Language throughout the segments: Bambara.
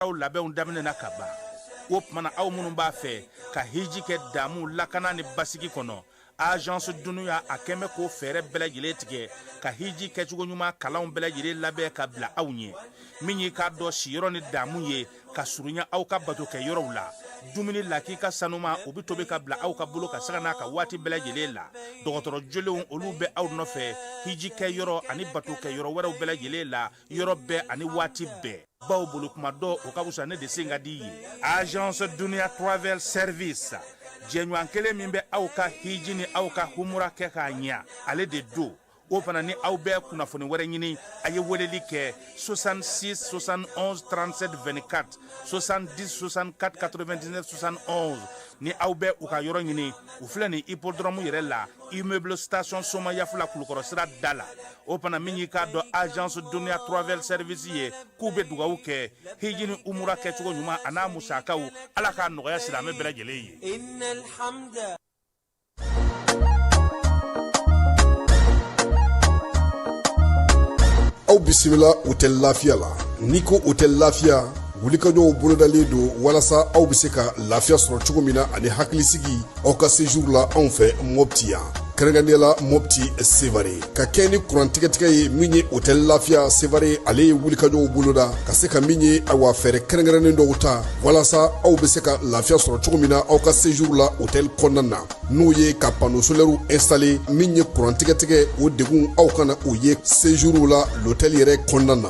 aw labɛnw daminɛna ka ban o tuma na aw minnu b'a fɛ ka hiji kɛ damu lakana ni basigi kɔnɔ agence dunuya a kɛmɛ k'o fɛɛrɛ bɛɛ lajɛlen tigɛ ka hiji kɛcogo ɲuman kalanw bɛɛ lajɛlen labɛn ka bila aw ɲɛ min y'i k'a dɔn siyɔrɔ ni damu ye ka surunya aw ka bato kɛ yɔrɔw la dumuni lakika sanuman o bɛ tobi ka bila aw ka bolo kan sanga n'a ka waati bɛɛ lajɛlen la dɔgɔtɔrɔ jolenw olu bɛ aw nɔfɛ hiji kɛ yɔrɔ ani bato kɛ yɔrɔ wɛrɛw bɛɛ lajɛlen la yɔrɔ bɛɛ ani waati bɛɛ baw bolo kunma don o ka wusa ne de sen ka di ye agence dunia travel service jɛɲɔgɔn kelen min bɛ aw ka hiji ni aw ka humura kɛ k'a ɲɛ ale de don o fana ni aw bɛ kunnafoni wɛrɛ ɲini a ye weleli kɛ 66 71 37 24 70 64 99 71 ni aw bɛ u ka yɔrɔ ɲini u filɛ nin hippodrome yɛrɛ la immeuble station somayaf la kulukɔrɔ sira da la o fana min y'i k'a dɔn agence dunuya travel service ye k'u bɛ dugawu kɛ hiji ni umura kɛcogo ɲuman an'a musakaw ala k'a nɔgɔya silamɛ bɛɛ lajɛlen ye aw bisimila hôtel lafiya la n'i ko hôtel lafiya wulikajɔw bolodalen don walasa aw bɛ se ka lafiya sɔrɔ cogo min na ani hakilisigi aw ka séjour la anw fɛ mɔpti yan kɛrɛnkɛrɛnnenya la mɔpti sevare ka kɛɲɛ ni kurantigɛtigɛ ye min ye hôtel lafiya sevare ale ye wulikajɔw boloda ka se ka min ye awa fɛɛrɛ kɛrɛnkɛrɛnnen dɔw ta walasa aw bɛ se ka lafiya sɔrɔ cogo min na aw ka séjour la hôtel kɔnɔna na n'o ye ka panneau solaire installer min ye kurantigɛtigɛ o degun aw kana o ye séjour la l'hôtel yɛrɛ kɔnɔna na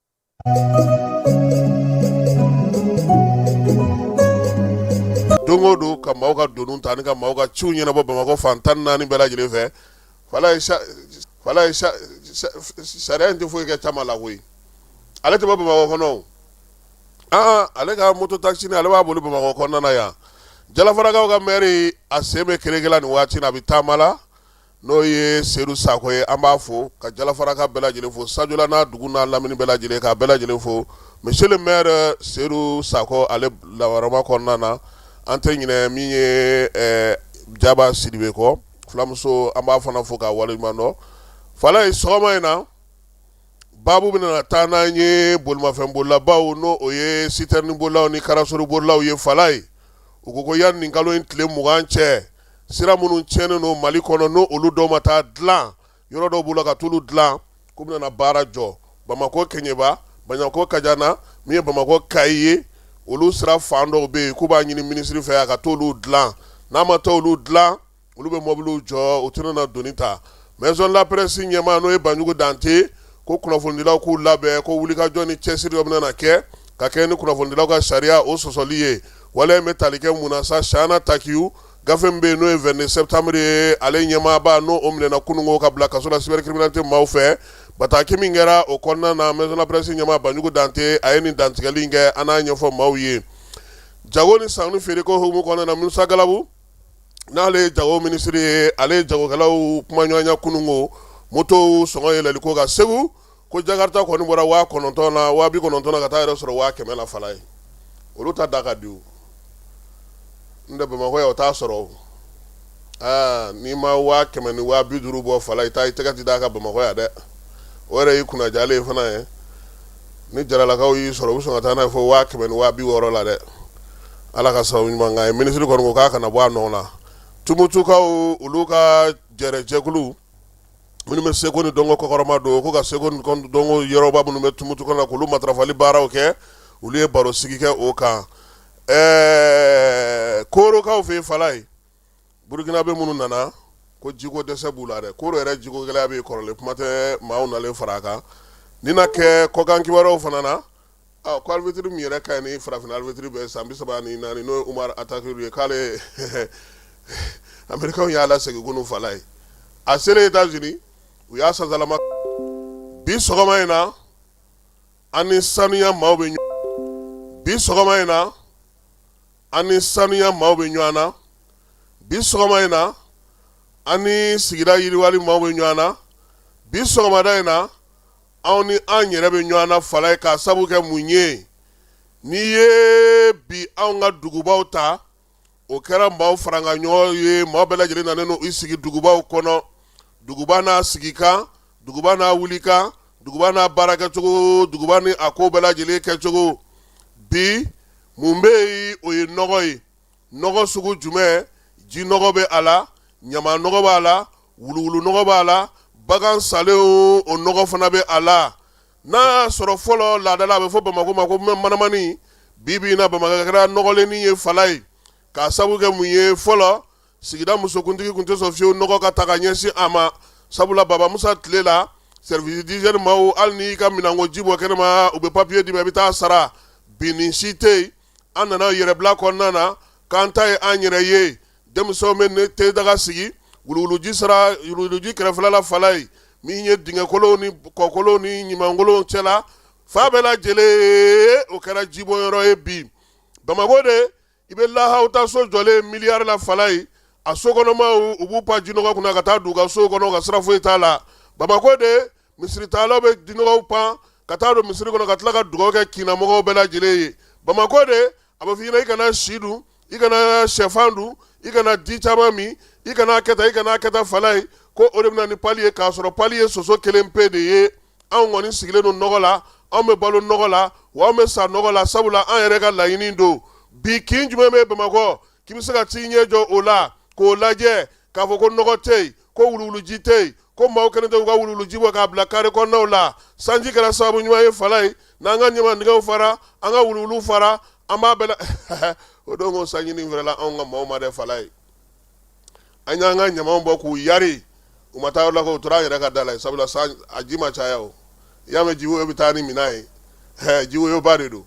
don o don ka maaw ka donu ta ani ka maaw ka ciw ɲɛnabɔ bamakɔ fan tan naani bɛɛ lajɛlen fɛ sariya in tɛ foyi kɛ caman la koyi ale tɛ bɔ bamakɔ kɔnɔ aa ale ka moto takisi nin ale b'a boli bamakɔ kɔnɔna yan jalafarakaw ka mɛri a sen bɛ kereke la nin waati na a bɛ taama la n'o ye seyidu sako ye an b'a fo ka jalafaraka bɛɛ lajɛlen fo sajola n'a dugu n'a lamini bɛɛ lajɛlen k'a bɛɛ lajɛlen fo monsieur le maire seyidu sako ale lawarama kɔnɔna na an tɛ ɲinɛ min ye jaba sidibe kɔ fulamuso an b'a fana fo k'a waleɲuman dɔn falaye sɔgɔma in na baabu bɛna taa n'an ye bolimafɛn bolilabaw n'o ye citerne bolilaw ni karasori bolilaw ye falaye u ko yanni nin kalo in tile mugan cɛ sira minnu cɛnnen don mali kɔnɔ n' olu dɔw ma taa dila yɔrɔ dɔw b'u la ka t'olu dila k'u bɛna baara jɔ bamakɔ kɛɲɛba bamakɔ kajana min ye bamakɔ kayi ye olu sira fan dɔw bɛ yen k'u b'a ɲini minisiri fɛ a ka t'olu dila n'a ma t'olu dila olu bɛ mɔbili jɔ u tɛna na doni ta maison de la presse ɲɛmaa n'o ye banjugu dante ko kunnafonidilaw k'u labɛn ko wulikajɔ ni cɛsiri dɔ bɛna na kɛ ka kɛ ni kunnafonidilaw ka sariya o sɔsɔli ye wala in bɛ tali kɛ mun na sa shana takiyu gafe min bɛ yen n'o ye 22 septembre ye ale ɲɛmaaba n'o o minɛna kununko ka bila kaso la cybercriminalité maaw fɛ bataki min kɛra o kɔnɔna na maison de la presse ɲɛmaa banjugu dante a ye nin dantigɛli in kɛ an n'a ɲɛfɔ maaw ye jago ni sanu feereko hukumu kɔnɔna na musa galabu n'ale ye jago minisiri ye ale ye jagokɛlaw kumaɲɔgɔnya kununko motow sɔngɔ yɛlɛliko kan segu ko jakarta kɔni bɔra waa kɔnɔntɔn na waa bi kɔnɔntɔn ka taa yɛrɛ sɔrɔ waa kɛmɛ na fala ye olu ta da ka di n'o tɛ bamakɔ yan o t'a sɔrɔ aa n'i ma waa kɛmɛ ni waa bi duuru bɔ fala i taa i tɛgɛ ti d'a kan bamakɔ yan dɛ o yɛrɛ y'i kunnajalen ye fana ye ni jaralakaw y'i sɔrɔ u bɛ sɔn ka taa n'a ye fɔ waa kɛmɛ ni waa bi wɔɔrɔ la dɛ ala ka sababu ɲuman k'an ye minisiri kɔni ko k'a kana bɔ a nɔ na tumutukaw olu ka jɛrɛjɛkulu minnu bɛ seko ni dɔnko kɔkɔrɔma don ko ka seko ni dɔnko yɔrɔba minnu bɛ tumutu kɔnɔ k'olu matarafali baaraw kɛ olu ye baro sigi kɛ o kan ɛɛ koorokaw fɛ yen fala ye burukinabɛ minnu nana ko jiko dɛsɛ b'u la dɛ kooro yɛrɛ jiko gɛlɛya bɛ kɔrɔlen kuma tɛ maaw nalen fara a kan ni na kɛ kɔkan kibaruyaw fana na Ɔ ko arbitre min yɛrɛ ka ɲi ni farafina arbitre bɛɛ ye san 34 n'o ye Umaru Atakiri ye k'ale ye Américains y'a lasegin kunu fala ye, a selen Etats Unis u y'a sansalama bi sɔgɔma in na an ni sanuya maaw bɛ ɲɔgɔn bi sɔgɔma in na an ni sanuya maaw bɛ ɲɔgɔn na bi sɔgɔma in na an ni sigida yiriwali maaw bɛ ɲɔgɔn na bi sɔgɔmada in na anw ni an yɛrɛ bɛ ɲɔgɔn na fala ye k'a sabu kɛ mun ye n'i ye bi anw ka dugubaw ta o kɛra maaw faranga ɲɔgɔn ye maa bɛɛ lajɛlen nanen n'u i sigi dugubaw kɔnɔ duguba n'a sigi kan duguba n'a wuli kan duguba n'a baara kɛcogo duguba ni a ko bɛɛ lajɛlen kɛcogo bi mun bɛ yen o ye nɔgɔ ye nɔgɔ sugu jumɛn ji nɔgɔ bɛ a la ɲama nɔgɔ b'a la wuluwulu nɔgɔ b'a la bagan salen o nɔgɔ fana bɛ a la n'a y'a sɔrɔ fɔlɔ laadala a bɛ fɔ bamakɔ ma ko manamani bi bi na bamakɔ kɛra nɔgɔlenni ye fala ye k'a sabu kɛ mun ye fɔlɔ sigida musokuntigi tun tɛ sɔn fiyewu nɔgɔ ka taa ka ɲɛsin a ma sabula baba musa tile la service d'hygiène maaw hali n'i ka minanko ji bɔ kɛnɛma u bɛ papiye d'i ma i bɛ taa sara bi nin si tɛ yen an nana yɛrɛbila kɔnɔna na k'an ta ye an yɛrɛ ye denmisɛnw bɛ ne te daga sigi wuluwuluji sera wuluwuluji kɛrɛfɛla falayi min ye dingɛkolonw ni kɔkolonw ni ɲumankolon cɛla fa bɛɛ lajɛlen o kɛra jibɔyɔrɔ ye bi bamakɔ de i bɛ lahaw ta so jɔlen ye miliyari la falayi a so kɔnɔmaw b'u pan jinɔgɔ kunna ka taa d'u ka so kɔnɔ ka sira foyi t'a la bamakɔ de misiritaalaw bɛ jinɔgɔw pan ka taa don misiri kɔnɔ ka tila ka dugawu kɛ kin na mɔgɔw bɛɛ lajɛlen ye bamakɔ de a bɛ f'i ɲɛna i kana si dun i kana shɛfan dun i kana di caman min i kana kɛ tan i kana kɛ tan falayi ko o de bɛ na ni pali ye k'a sɔrɔ pali ye soso kelen pe de ye anw kɔni sigilen don nɔgɔ la anw bɛ balo nɔgɔ la wa an bɛ sa nɔgɔ la sabula an yɛrɛ ka laɲini don bi kin jumɛn bɛ bamakɔ k'i bɛ se ka t'i ɲɛ jɔ o la k'o lajɛ k'a fɔ ko nɔgɔ tɛ yen ko wuluwuluji tɛ yen ko maaw kɛlen tɛ u ka wuluwuluji bɔ k'a bila kare kɔnɔnaw la sanji kɛra sababu ɲuman ye falayi n'an ka ɲamandingɛw fara an ka wuluwulu fara an b'a bɛɛ la o don ko sanji nin fɛrɛla anw ka maaw ma dɛ falayi an y'an ka ɲamanw bɔ k'u yari u ma taa yɔrɔ la ko u tora an yɛrɛ ka da la ye sabula san a ji ma caya o i y'a mɛn jiwoyo bɛ taa ni minan ye hɛ jiwoyoba de don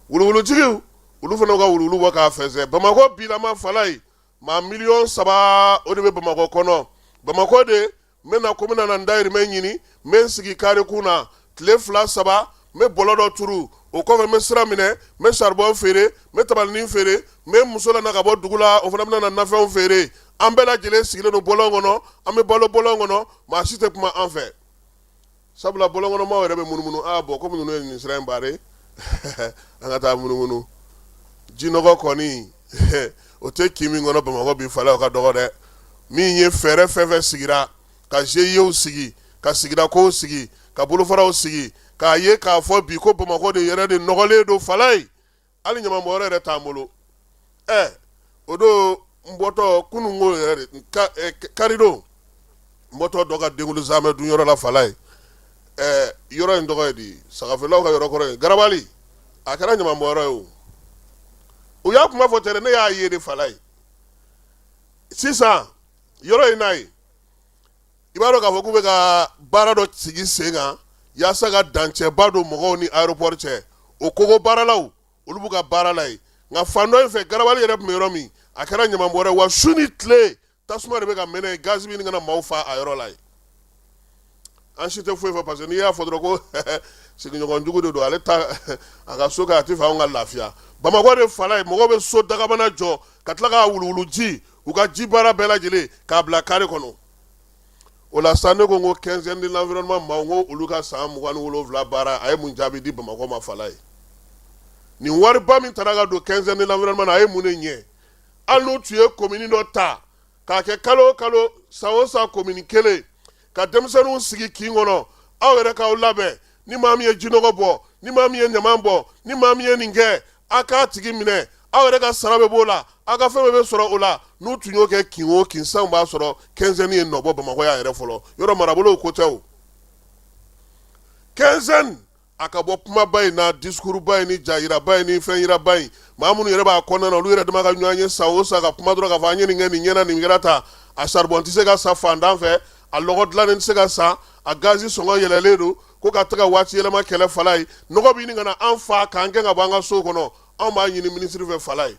wuluwulutigiw olu fana ka wuluwulu bɔ k'a fɛnsɛn bamakɔ bilama falayi maa miliyɔn saba o de bɛ bamakɔ kɔnɔ bamakɔ de n bɛ na ko n bɛna na n dayirimɛ ɲini n bɛ n sigi kare kun na tile fila saba n bɛ bɔlɔ dɔ turu o kɔfɛ n bɛ sira minɛ n bɛ saribɔn feere n bɛ tabalinin feere n bɛ muso lana ka bɔ dugu la o fana bɛna na nafɛnw feere an bɛɛ lajɛlen sigilen don bɔlɔn kɔnɔ an bɛ balo bɔlɔn kɔnɔ maa si tɛ kuma an fɛ sabula bɔlɔnkɔnɔmaw yɛrɛ bɛ munumunu aa bɔn kɔmi ninnu ye nin sira in bare an ka taa munumunu jinɔgɔ kɔni o tɛ kin min kɔnɔ bamakɔ bi falayi o ka dɔgɔ dɛ min ye fɛɛrɛ fɛn fɛn sigira ka zeyew sigi ka sigidakow sigi ka bolofaraw sigi k'a ye k'a fɔ bi ko bamakɔden yɛrɛ de nɔgɔlen don falayi hali ɲamanbɔnyɔrɔ yɛrɛ t'an bolo ɛ o don n bɔtɔ kunun ko yɛrɛ de karidon n bɔtɔ dɔ ka denkunli zamɛ dun yɔrɔ la falayi ɛ yɔrɔ in tɔgɔ ye di sagafeerelaw ka yɔrɔ kɔrɔ ye garabali a kɛra ɲamanbɔnyɔrɔ ye o u y'a kuma fɔ tɛrɛ ne y'a ye de falayi sisan yɔrɔ in n'a ye i b'a dɔn k'a fɔ k'u bɛ ka baara dɔ sigi sen kan yaasa ka dancɛba don mɔgɔw ni aéroport cɛ o kogo baaralaw olu b'u ka baara la yen nka fan dɔ in fɛ garabali yɛrɛ tun bɛ yɔrɔ min a kɛra ɲamanbɔnyɔrɔ ye wa su ni tile tasuma de bɛ ka mɛnɛ yen gaz bɛ ɲini ka na maaw fa a yɔrɔ la yen an si tɛ foyi fɔ parce que n'i y'a fɔ dɔrɔn ko sigiɲɔgɔn jugu de don ale ta a ka so kɛ a t'a fɛ anw ka lafiya bamakɔ de falayi mɔgɔw bɛ so dakabana jɔ ka tila k'a wuluwuluji u ka ji baara bɛɛ lajɛlen k'a bila kari kɔnɔ o la sa ne ko n ko quinzaine de l'environnement maaw ko olu ka san mugan ni wolowula baara a ye mun jaabi di bamakɔ ma fala ye nin wariba min taara ka don quinzaine de l'environnement na a ye mun de ɲɛ hali n'u tun ye commune dɔ ta k'a kɛ kalo o kalo san o san commune kelen ka denmisɛnninw sigi kin kɔnɔ aw yɛrɛ k'aw labɛn ni maa min ye jinɔgɔ bɔ ni maa min ye ɲaman bɔ ni maa min ye nin kɛ a k'a tigi minɛ aw yɛrɛ ka sara bɛ b'o la aw ka fɛn bɛɛ bɛ sɔrɔ o la n'u tun y'o kɛ kin o kin sanw b'a sɔrɔ quinzaine ye nɔ bɔ bamakɔ yan yɛrɛ fɔlɔ yɔrɔ marabolow ko tɛ o quinzaine a ka bɔ kumaba in na discours ba in ni ja jiraba in ni fɛn jiraba in maa minnu yɛrɛ b'a kɔnɔna na olu yɛrɛ dama ka ɲɔgɔn ye san o san ka kuma dɔrɔn k'a fɔ an ye nin kɛ nin ɲɛna nin kɛra tan a saribɔn tɛ se ka san fantan fɛ a lɔgɔ dilannen tɛ se ka san a gazi sɔngɔ yɛlɛlen don ko ka taga waati yɛlɛma kɛlɛ fala ye nɔgɔ bɛ ɲini ka na an fa k'an gɛn ka bɔ an ka so kɔnɔ anw b'a ɲini minisiri fɛ fala ye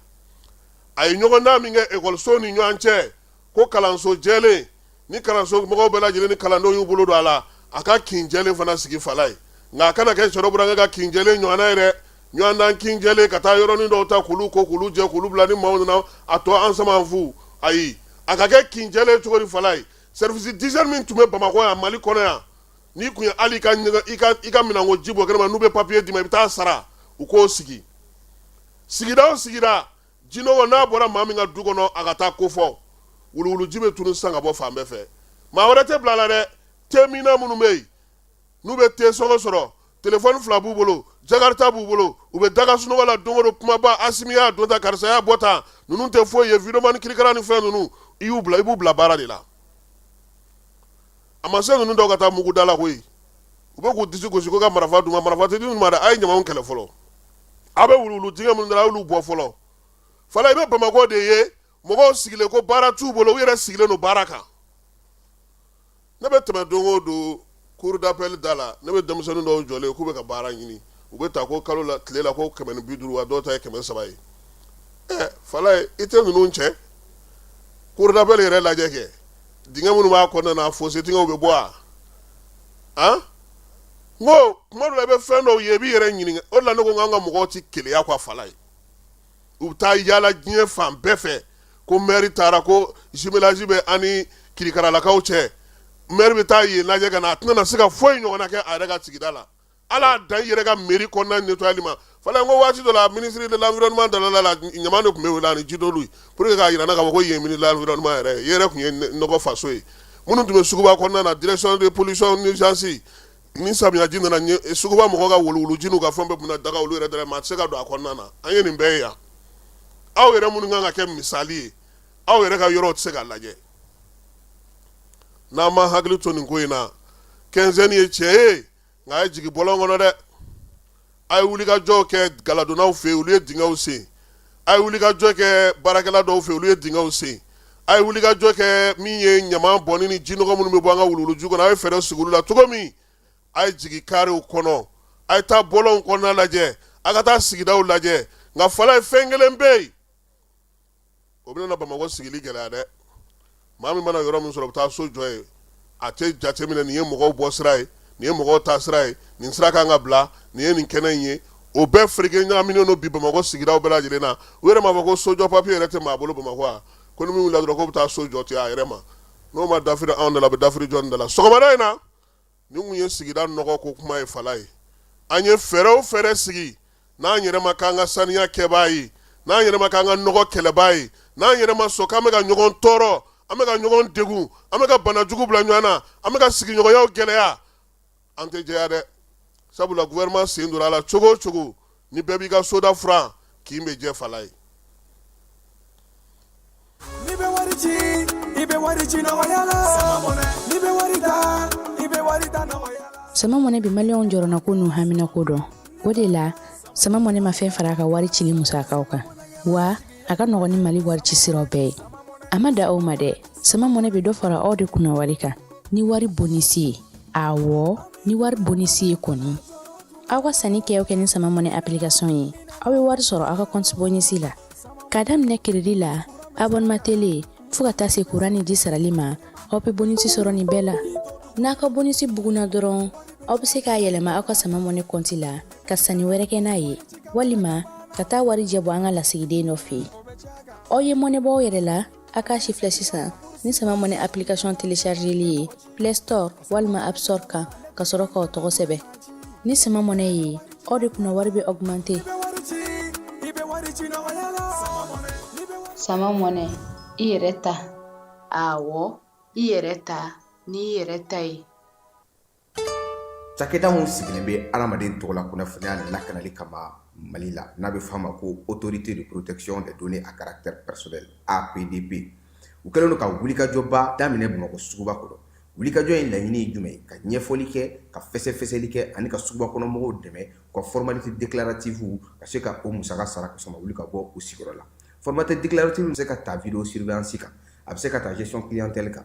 a ye ɲɔgɔndan min kɛ ekɔlisow ni ɲɔgɔn cɛ ko kalanso jɛlen ni kalanso mɔgɔw bɛɛ lajɛlen ni kalandenw y'u bolo don a la a ka kin jɛlen fana sigi fala ye nka a kana kɛ sɔrɔ burankɛ ka kin jɛlen ɲɔgɔnna ye dɛ ɲɔgɔndan kin jɛlen ka taa yɔrɔnin dɔw ta k'olu ko k'olu jɛ k'olu bila ni maaw nana a tɔ an sama fu ayi a ka kɛ kin jɛlen cogo di fala ye service d'hygiène min tun bɛ bamakɔ yan mali kɔnɔ yan n'i tun ye hali i ka minɛnko ji bɔ kɛnɛma n'u bɛ papiye d'i ma i bɛ taa sara u k'o sigi sigida o sigida jinɔgɔ n'a bɔra maa min ka du kɔnɔ a ka taa k'o fɔ wuluwuluji bɛ tunun sisan ka bɔ fan bɛɛ fɛ maa wɛrɛ tɛ bila a la dɛ teminna minnu bɛ yen n'u bɛ te sɔngɔ sɔrɔ telefɔni fila b'u bolo jakarita b'u bolo u bɛ daga sunɔgɔ la don o don kumaba asimi y'a don tan karisa y'a bɔ tan ninnu tɛ foyi ye vidéoman kirikara ni fɛn ninnu i y'u bila i b'u bila baara de la a ma se ninnu dɔw ka taa mugu da la koyi u bɛ k'u disi gosi ko ka marifa d'u ma marifa tɛ di ninnu ma a ye ɲaman kɛlɛ fɔlɔ aw bɛ wuluwulu dingɛ minnu da a y'olu bɔ fɔlɔ fala i bɛ bamakɔ de ye mɔgɔw sigilen ko baara t'u bolo u yɛrɛ sigilen don baara kan ne bɛ tɛmɛ don o don cour d'appel da la ne bɛ denmisɛnnin dɔw jɔlen k'u bɛ ka baara ɲini u bɛ ta ko kalo la tile la ko kɛmɛ bi duuru wa dɔw ta ye kɛmɛ saba ye fala ye i tɛ ninnu cɛ cour d'appel yɛrɛ lajɛ kɛ dingɛ minnu b'a kɔnɔna na fossé dingɛw bɛ bɔ wa n ko tuma dɔ la i bɛ fɛn dɔw ye i b'i yɛrɛ ɲininka o de la ne ko k'an ka mɔgɔw tɛ keleya quoi fala ye u bɛ taa yaala diɲɛ fan bɛɛ fɛ ko mɛri taara ko jumelage bɛ ani kirikaralakaw cɛ mɛri bɛ taa yen lajɛ ka na a tɛna na se ka foyi ɲɔgɔnna kɛ a yɛrɛ ka sigida la ala dan i yɛrɛ ka mɛri kɔnɔna netɔyali ma fɔlɔ ko waati dɔ la ministre de l'environnement dala la ɲama de tun bɛ wele ni ji dɔlu ye pour que k'a jira k'a fɔ ko yen ministre de l'environnement yɛrɛ e yɛrɛ tun ye nɔgɔ faso ye minnu tun bɛ suguba kɔnɔna na direction de pollution nuisance ni samiyaji nana suguba mɔgɔw ka wuluwuluji n'u ka fɛn bɛɛ bɛ na daga olu yɛrɛ da la maa tɛ se ka don a kɔnɔna na an ye nin bɛɛ ye yan aw yɛrɛ minnu kan ka kɛ misali ye aw yɛrɛ ka yɔrɔ tɛ se ka lajɛ n'an ma hakili to nin ko in na quinzaine ye tiɲɛ ye nka a ye jigin bɔlɔn kɔnɔ dɛ a ye wulikajɔ kɛ galadonnaw fɛ yen olu ye dingɛw sen a ye wulikajɔ kɛ baarakɛla dɔw fɛ olu ye dingɛw sen a ye wulikajɔ kɛ min ye ɲama bɔnni ni jinɔgɔ minnu bɛ bɔ an ka wuluwuluju kɔnɔ a ye fɛɛrɛ sigi olu la cogo min a ye jigin karew kɔnɔ a ye taa bɔlɔnw kɔnɔna lajɛ a ka taa sigidaw lajɛ nka falaye fɛn kelen bɛ yen o bɛna na bamakɔ sigili gɛlɛya dɛ maa min mana yɔrɔ min sɔrɔ bɛ taa so jɔ yen a tɛ jate minɛ nin ye mɔgɔw bɔ sira ye nin ye mɔgɔw taa sira ye nin sira kan ka bila nin ye nin kɛnɛ in ye o bɛɛ fereke ɲagaminen don bi bamakɔ sigidaw bɛɛ lajɛlen na u yɛrɛ m'a fɔ ko sojɔ papiye yɛrɛ tɛ maa bolo bamakɔ a ko ni min wulila dɔrɔn k'o bɛ taa so jɔ ten a yɛrɛ ma n'o ma dafiri anw da la a bɛ dafiri jɔn da la sɔgɔmada in na nin tun ye sigida nɔgɔ ko kuma ye falaye an ye fɛɛrɛ o fɛɛrɛ sigi n'an yɛrɛ ma k'an ka saniya kɛbaa ye n'an yɛrɛ ma k'an ka nɔgɔ kɛlɛbaa ye n'an yɛrɛ ma sɔn k'an bɛ ka ɲɔgɔn tɔɔrɔ an bɛ ka ɲɔgɔn degun an bɛ ka bana jugu bila ɲɔgɔn na an bɛ ka sigiɲɔgɔnyaw gɛlɛya an tɛ jɛya dɛ sabula gouvernement sen donna a la cogo o cogo ni bɛɛ b'i ka soda furan kin bɛ jɛ falaye n'i bɛ wari ci i bɛ wari ci nɔgɔya la n'i bɛ wari ta i bɛ wari ta nɔgɔya la sama mɔnɛ bi maliyɛnw jɔrɔnanko n'u haminanko dɔn o de la sama mɔnɛ ma fɛn fara a ka wari cili musakaw kan wa a ka nɔgɔn ni mali wari ci siraw bɛɛ ye a ma dan o ma dɛ sama mɔnɛ bɛ dɔ fara aw de kunnawari kan ni wari bonisi ye awɔ ni wari bonisi ye kɔni aw ka sanni kɛ kɛ ni sama mɔnɛ application ye aw bɛ wari sɔrɔ aw ka compte bonus la k'a daminɛ crédit la abonnement télé fo ka taa se courant ni ji sarali ma aw bɛ bonus sɔrɔ nin bɛɛ la n'a ka bonus bugunna dɔrɔn aw bɛ se k'a yɛlɛma aw ka sama mɔnɛ compte la ka sanni wɛrɛ kɛ n'a ye walima ka taa warijɛ bɔ an ka lasigiden dɔ fɛ yen aw ye mɔnɛ bɔ aw yɛrɛ la A k'a sifilɛ sisan ni sama mɔnɛ application téléchargeli ye play store walima app store kan ka sɔrɔ k'aw tɔgɔ sɛbɛn ni sama mɔnɛ ye aw de kunna wari bɛ augmenter sama mɔnɛ i yɛrɛ ta awɔ i yɛrɛ ta n'i yɛrɛ ta ye cakɛda min sigilen bɛ adamaden tɔgɔla kunnafoniya lakanali kama mali la n'a bɛ f'a ma ko autorité de protection des données à caractère personnel APDP u kɛlen don ka wulikajɔba daminɛ bamakɔ suguba kɔnɔ wulikajɔ in laɲini ye jumɛn ye ka ɲɛfɔli kɛ ka fɛsɛfɛsɛli kɛ ani ka suguba kɔnɔ mɔgɔw dɛmɛ ka formalité déclarative ka se ka o musaka sara ka sɔrɔ u ma wuli ka bɔ u sigiyɔrɔ la formalité déclarative bɛ se ka ta video surveillance kan a bɛ se ka ta gestion clientèle kan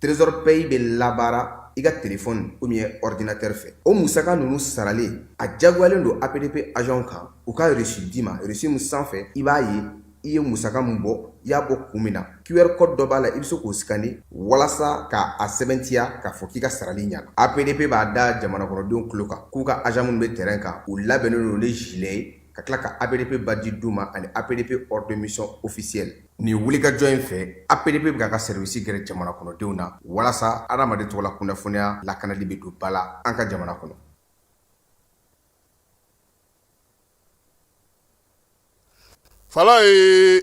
trésor pay bɛ labaara i ka telefɔni ou bien ordinatɛri fɛ o musaka ninnu sarali a jagoyalen don apdp agent kan u ka reçu d'i ma reçu min sanfɛ i b'a ye i ye musaka min bɔ i y'a bɔ kun min na qr code dɔ b'a la i bɛ se k'o sikani walasa ka a sɛbɛntiya k'a fɔ k'i ka sarali ɲana apdp b'a da jamana kɔnɔdenw tulo kan k'u ka agent minnu bɛ terrain kan u labɛnnen don ni gilet ye ka tila ka APDP badge d'u ma ani APDP ordre de mission officielle nin wulikajɔ in fɛ APDP bɛ k'a ka service gɛrɛ jamana kɔnɔdenw na walasa adamaden tɔgɔla kunnafoniya lakanali bɛ don ba la an ka jamana kɔnɔ. Falayi!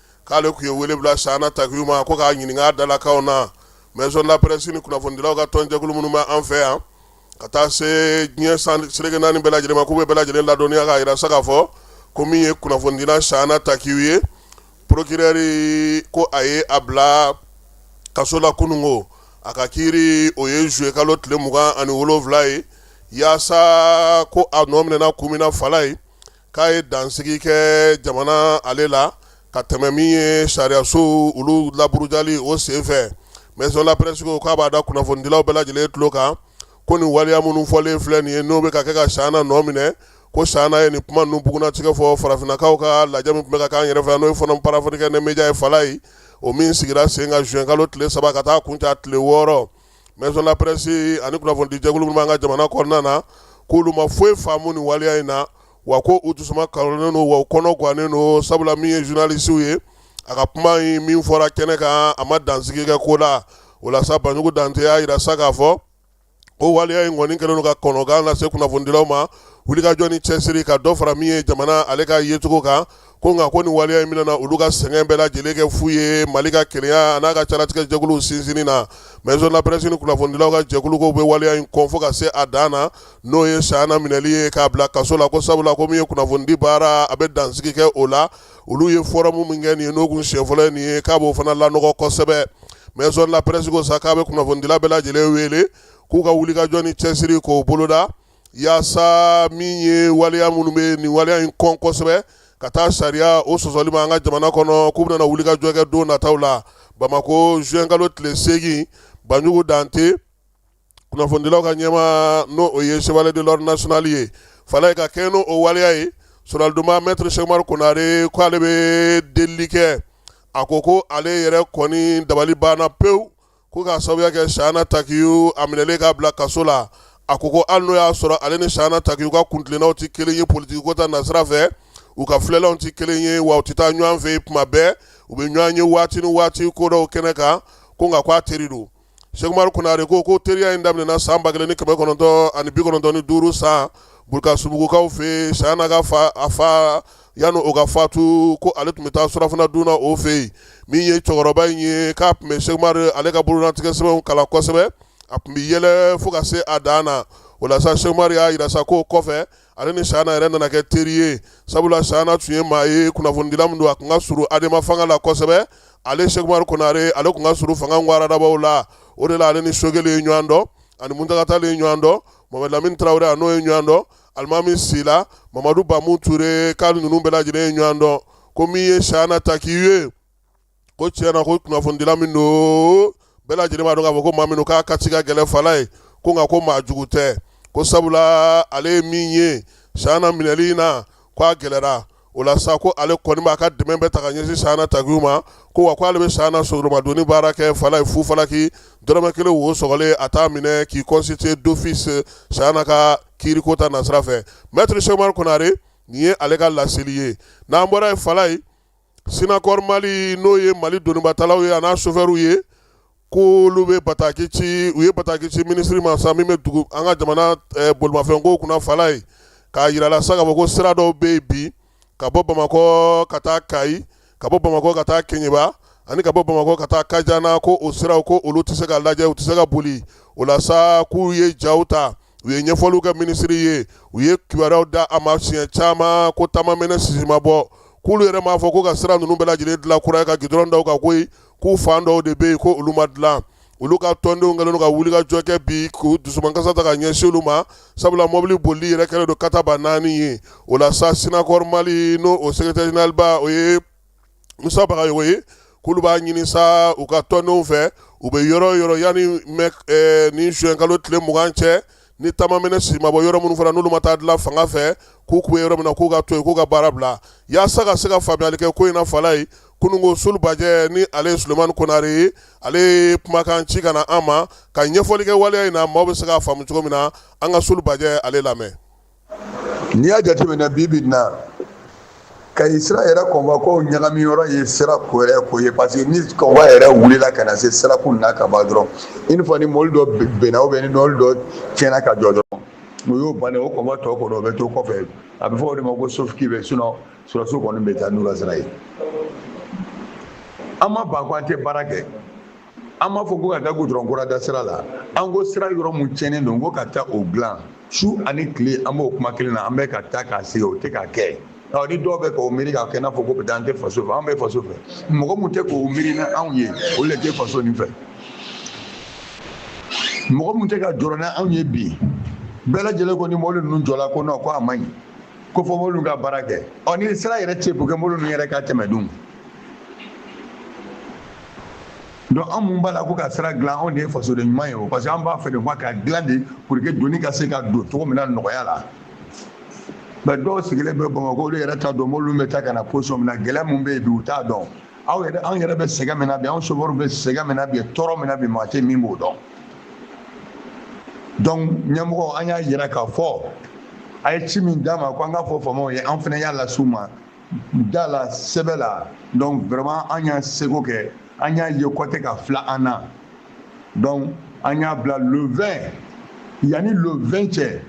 k'ale tun ye wele bila sahana takiyu ma ko k'a ɲininka dalakanw na maison de la presse ni kunnafonidilaw ka tɔnjɛkulu minnu bɛ an fɛ yan ka taa se diɲɛ seleke naani bɛɛ lajɛlen ma k'u bɛ bɛɛ lajɛlen ladɔnniya k'a yira sa k'a fɔ ko min ye kunnafonidila sahana takiyu ye procureur ko a ye a bila kaso la kunun ko a ka kiiri o ye zuye kalo tile mugan ani wolonwula ye yaasa ko a nɔ minɛna kun min na falayi k'a ye dansigi kɛ jamana ale la ka tɛmɛ min ye sariyasow olu laburujali o senfɛ maison de la presse ko k'a b'a da kunnafonidilaw bɛɛ lajɛlen tulo kan ko nin waliya minnu fɔlen filɛ nin ye n'o bɛ ka kɛ ka sahana nɔ minɛ ko sahana ye nin kuma ninnu bugunnatigɛ fɔ farafinnakaw ka lajɛ min tun bɛ ka k'an yɛrɛ fɛ n'o ye forum panafricain des médias ye falayi o min sigira sen kan zuwɛnkalo tile saba ka taa kuncɛ tile wɔɔrɔ maison de la presse ani kunnafonidijɛkulu minnu b'an ka jamana kɔnɔna na k'olu ma foyi faamu nin waleya in na wa ko u dusu kanen don wa u kɔnɔ gannen don sabula min ye journaliste ye a ka kuma in min fɔra kɛnɛ kan a ma dansigi kɛ ko la o la sa banjugu dante y'a yira sa k'a fɔ ko waleya in kɔni kɛlen don ka kɔnɔgan lase kunnafonidilaw ma wulikajɔ ni cɛsiri ka dɔ fara min ye jamana ale ka yecogo kan ko nka ko nin waleya in min nana olu ka sɛgɛn bɛɛ lajɛlen kɛ fu ye mali ka kelenya an'a ka caratigɛ jɛkuluw sinsinni na maison de la presse ni kunnafonidilaw ka jɛkulu k'u bɛ waleya in kɔn fo ka se a dan na n'o ye sahana minɛli ye k'a bila kaso la ko sabula ko min ye kunnafonidi baara a bɛ dansigi kɛ o la olu ye fɔrɔmu min kɛ nin ye n'o kun siɲɛ fɔlɔ ye nin ye k'a b'o fana lanɔgɔ kosɛbɛ maison de la presse ko sa k'a bɛ kunnafonidila bɛɛ lajɛlen wele k'u ka wulikajɔ ni cɛsiri k'o boloda yaasa min ye waleya minnu bɛ nin waleya in kɔn kosɛbɛ ka taa sariya o sɔsɔli ma an ka jamana kɔnɔ k'u bɛna wulikajɔ kɛ don nataw la bamakɔ zuwɛnkalo tile segin banjugu dante kunnafonidilaw ka ɲɛmaa n'o o ye chevalier de l'ordre national ye fala ye ka kɛ n' o waleya ye soromadonna mɛtiri sɛkumaru konare k' ale bɛ delili kɛ a ko ko ale yɛrɛ kɔni dabali banna pewu Ko k'a sababuya kɛ Sayana Takiyu a minɛlen k'a bila kaso la, a ko ko hali n'o y'a sɔrɔ ale ni Sayana Takiyu ka kuntilennaw tɛ kelen ye politiki ko ta nasira fɛ, u ka filɛlanw tɛ kelen ye wa u tɛ taa ɲɔgɔn fɛ yen tuma bɛɛ, u bɛ ɲɔgɔn ye waati ni waati ko dɔw kɛnɛ kan, ko nka k'a teri don. Sɛkumaru Konare ko ko teriya in daminɛna san 1995 san Burkasubugukaw fɛ yen, Sayana ka fa, a fa Yanni o ka fatu ko ale tun bɛ taa surɔfana dun o fɛ yen min ye cɛkɔrɔba in ye k'a tun bɛ sɛkumaru ale ka bolotigɛ sɛbɛnw kalan kosɛbɛ a tun bɛ yɛlɛ fo ka se a dan na o la sa sɛkumaru y'a jira sa k'o kɔfɛ ale ni sayana yɛrɛ nana kɛ teri ye sabula sayana tun ye maa ye kunnafonidila min don a tun ka surun adema fanga la kosɛbɛ ale sɛkumaru konare ale tun ka surun fanga waradabaw la o de la ale ni sogɛli ye ɲɔgɔn dɔn ani muntaga ye ɲɔgɔn dɔn mohamɛdi lamini tarawele a n'o ye ɲɔgɔn dɔn alimami sila mamadu bamu ture k'a ninnu bɛɛ lajɛlen ye ɲɔgɔn dɔn ko min ye sayana takiyu ye ko tiɲɛ na ko kunnafonidila min don bɛɛ lajɛlen b'a dɔn k'a fɔ ko maa min don k'a kati ka gɛlɛn fala ye ko nka ko maa jugu tɛ ko sabula ale ye min ye sayana minɛli in na ko a gɛlɛyara o la sa ko ale kɔni b'a ka dɛmɛ bɛɛ ta ka ɲɛsin sayana takiyu ma ko wa ko ale bɛ sayana soromadonni baara kɛ fala ye fu falaki dɔrɔmɛ kelen wo sɔgɔlen a t'a minɛ k'i constituer d'office sayana ka kiiri ko ta nasira fɛ mɛtiri sɛkumaru konare nin ye ale ka laseli ye n'an bɔra yen fala ye sinakɔrɔ mali n'o ye mali donibatalaw ye a n'a sofɛriw ye ko olu bɛ bataki ci u ye bataki ci minisiri ma sa min bɛ dugu an ka jamana bolimafɛnko kunna fala ye k'a jira a la sa k'a fɔ ko sira dɔw bɛ yen bi ka bɔ bamakɔ ka taa kayi ka bɔ bamakɔ ka taa keɲeba ani ka bɔ bamakɔ ka taa kajana ko o siraw ko olu tɛ se ka lajɛ u tɛ se ka boli o la sa k'u ye jaw ta u ye ɲɛfɔliw kɛ minisiri ye u ye kibaruyaw da a ma siɲɛ caman ko ta ma mɛnɛ sisi ma bɔ k'olu yɛrɛ m'a fɔ ko ka sira ninnu bɛɛ lajɛlen dilan kura ye ka gudɔrɔn da u kan koyi k'u fan dɔw de bɛ yen ko olu ma dilan olu ka tɔndenw kɛlen don ka wulikajɔ kɛ bi k'u dusumankasi ta ka ɲɛsin olu ma sabula mɔbili boli yɛrɛ kɛlen don kataba naani ye o la sa sinakɔrɔ mali n'o o sekeretɛri zeneraliba o ye musa bagayogo ye k'olu b'a ɲini sa u ka tɔndenw fɛ u bɛ yɔrɔ o yɔrɔ yanni ni zuwɛnkalo tile mugan cɛ ni taamaminɛ si ma bɔ yɔrɔ minnu fana n'olu ma taa dilan fanga fɛ k'u kun bɛ yɔrɔ min na k'u ka to yen k'u ka baara bila yaasa ka se ka faamuyali kɛ ko in na fala ye kununko Sulubajɛ ni ale ye Sulemani Konare ye ale ye kumakan ci ka na an ma ka ɲɛfɔli kɛ waleya in na maaw bɛ se k'a faamu cogo min na an ka Sulubajɛ ale lamɛn n'i y'a jateminɛ bi bi in na Kayi sira yɛrɛ convoi ko ɲagami yɔrɔ ye sira ko yɛrɛ ko ye parce que ni convoi yɛrɛ wulila ka na se sirakun na ka ban dɔrɔn une fois ni mɔbili dɔ binna ou bien ni mɔbili dɔ tiɲɛna ka jɔ dɔrɔn o y'o ban o convoi tɔ kɔnɔ o bɛ to kɔfɛ a bɛ fɔ o de ma ko sauve qui peut sinon sɔrɔdasiw kɔni bɛ taa n'u la sira ye an ma ban ko an tɛ baara kɛ an m'a fɔ ko ka taa gudɔrɔn kura da sira la an ko sira yɔrɔ mun tiɲɛnen don ko ka taa o dilan su ani tile an b'o kuma kelen na an bɛ ka taa ka segin o tɛ ka kɛ ɔ ni dɔw bɛ k'o miiri k'a kɛ i n'a fɔ ko peut-être an tɛ faso fɛ an bɛ faso fɛ mɔgɔ mun tɛ k'o miiri ni anw ye olu de tɛ faso nin fɛ mɔgɔ mun tɛ ka jɔrɔ ni anw ye bi bɛɛ lajɛlen ko ni mɔbili ninnu jɔla ko non ko a man ɲi ko fɔ mɔbili ka baara kɛ ɔ ni sira yɛrɛ tɛ yen pour que mɔbili ninnu yɛrɛ ka tɛmɛ dun donc an mun b'a la ko ka sira dilan anw de ye fasoden ɲuman ye o parce que an b'a fɛ de ka dilan de pour que doni ka se ka don cogo min na nɔgɔya la mais dɔw sigilen bɛ Bamakɔ olu yɛrɛ t'a dɔn mɔbiliw bɛ taa ka na position min na gɛlɛya min bɛ yen bi u t'a dɔn aw yɛrɛ an yɛrɛ bɛ sɛgɛn min na bi anw sofɛriw bɛ sɛgɛn min na bi tɔɔrɔ min na bi maa tɛ min b'o dɔn donc ɲɛmɔgɔ an y'a yira k'a fɔ a ye ci min d'an ma ko an k'a fɔ faamaw ye an fana y'a las'u ma da la sɛbɛn la donc vraiment an y'an seko kɛ an y'a ye k'u tɛ ka filɛ an na donc an y'a bila le 20 yanni le 20 cɛ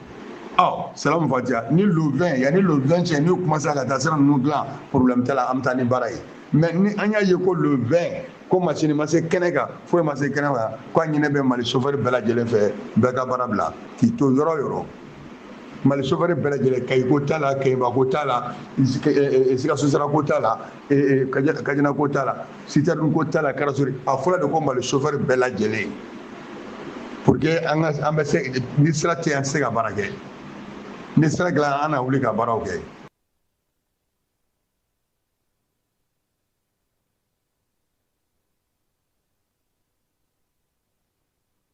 salamu fatiya ni le 20 yanni le 20 cɛ n'u commencera ka taa sira ninnu dilan problème t'a la an bɛ taa ni baara ye mais ni an y'a ye ko le 20 ko masini ma se kɛnɛ kan foyi ma se kɛnɛ kan ko a ɲininen bɛ Mali chauffeur bɛɛ lajɛlen fɛ bɛɛ ka baara bila k'i to yɔrɔ yɔrɔ Mali chauffeur bɛɛ lajɛlen Kayi ko t'a la Keɲeba ko t'a la Sikaso sira ko t'a la Kajana ko t'a la citerne ko t'a la karasori a fɔra de ko Mali chauffeur bɛɛ lajɛlen pour que an ka an bɛ se ni sira tɛ an tɛ se ka baara kɛ ni sira dilan an na wuli ka baaraw kɛ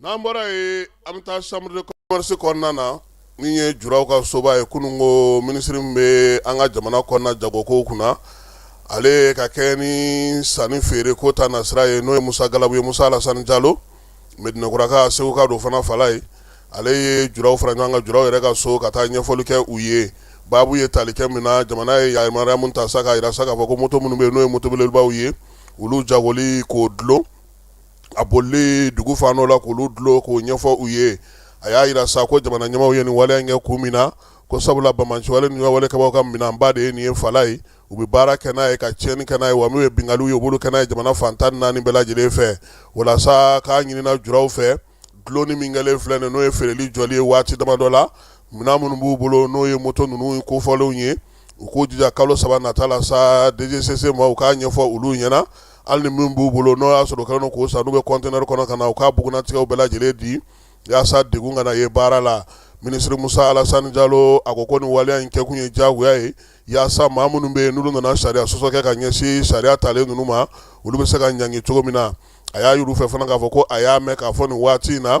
N'an bɔra yen an bɛ taa chambre de commerce kɔnɔna na min ye juraw ka soba ye kunun ko minisiri min bɛ an ka jamana kɔnɔna jagokow kunna ale ka kɛɲɛ ni sanni feere ko ta nasira ye n'o ye Musa Galabu ye Musa Alasani Jalo Medinakuraka Seguka don fana fala ye ale ye juraw fara ɲɔgɔn kan juraw yɛrɛ ka so ka taa ɲɛfɔli kɛ u ye baabu ye tali kɛ min na jamana ye yamaruya min ta sa k'a jira sa k'a fɔ ko moto minnu bɛ yen n'o ye moto belebelebaw ye olu jagoli k'o dulon a boli dugu fan dɔ la k'olu dulon k'o ɲɛfɔ u ye a y'a jira sa ko jamana ɲɛmaaw ye nin waleya in kɛ kun min na ko sabula banbaanci wale ni wale kɛbaaw ka minɛnba de ye nin ye fa ye u bɛ baara kɛ n'a ye ka tiɲɛni kɛ n'a ye wa min ye binkanniw ye u b'olu kɛ n'a ye jamana fan tan naani bɛɛ lajɛlen fɛ walasa k'a ɲinina juraw fɛ dulonni min kɛlen filɛ nin n'o ye feereli jɔli ye waati damadɔ la minɛn minnu b'u bolo n'o ye moto ninnu kofɔlenw ye u k'u jija kalo saba nata la sa DGCC ma u k'a ɲɛfɔ olu ɲɛna hali ni min b'u bolo n'o y'a sɔrɔ kɛlen k'o san n'u bɛ kɔntɛnɛre kɔnɔ ka na u k'a bugunnatigɛw bɛɛ lajɛlen di yaasa degun kana ye baara la minisiriri musa alasani jalo a ko ko nin waleya in kɛkun ye diyagoya ye yaasa maa minnu bɛ yen n'olu nana sariya sɔsɔ kɛ ka ɲɛsin sariya talen ninnu ma olu bɛ se ka ɲangi cogo min na a y'a yir'u fɛ fana k'a fɔ ko a y'a mɛn k'a fɔ nin waati in na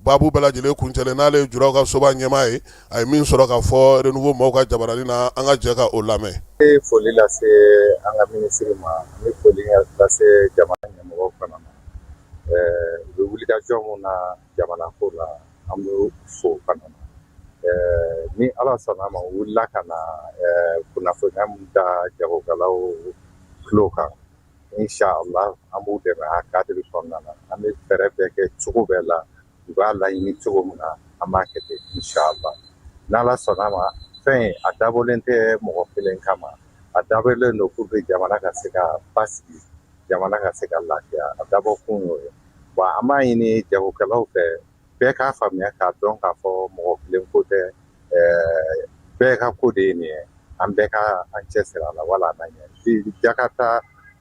Babu bɛɛ lajɛlen kuncɛlen n'ale ye juraw ka soba ɲɛmaa ye a ye min sɔrɔ ka fɔ Renouveau maaw ka jabarani na an ka jɛ ka o lamɛn foli lase an ka minisiri ma an bɛ foli lase jamana ɲɛmɔgɔw fana ma u bɛ wulikajɔ min na jamana ko la an b'u fo fana ni ala sɔnna ma u wulila ka na kunnafoniya min da jagokɛlaw tulo kan Inshallah an b'u dɛmɛ a kadiri kɔnɔna na an bɛ fɛɛrɛ bɛɛ kɛ cogo bɛɛ la u b'a laɲini cogo min na an b'a kɛ ten inshallah n'ala sɔnna a ma fɛn in a dabɔlen tɛ mɔgɔ kelen kama a dabɔlen don pour que jamana ka se ka basigi jamana ka se ka lafiya a dabɔ kun y'o ye wa an b'a ɲini jagokɛlaw fɛ bɛɛ k'a faamuya k'a dɔn k'a fɔ mɔgɔ kelen ko tɛ bɛɛ ka ko de ye nin ye an bɛɛ ka an cɛsiri a la wala an ɲɛ jakarita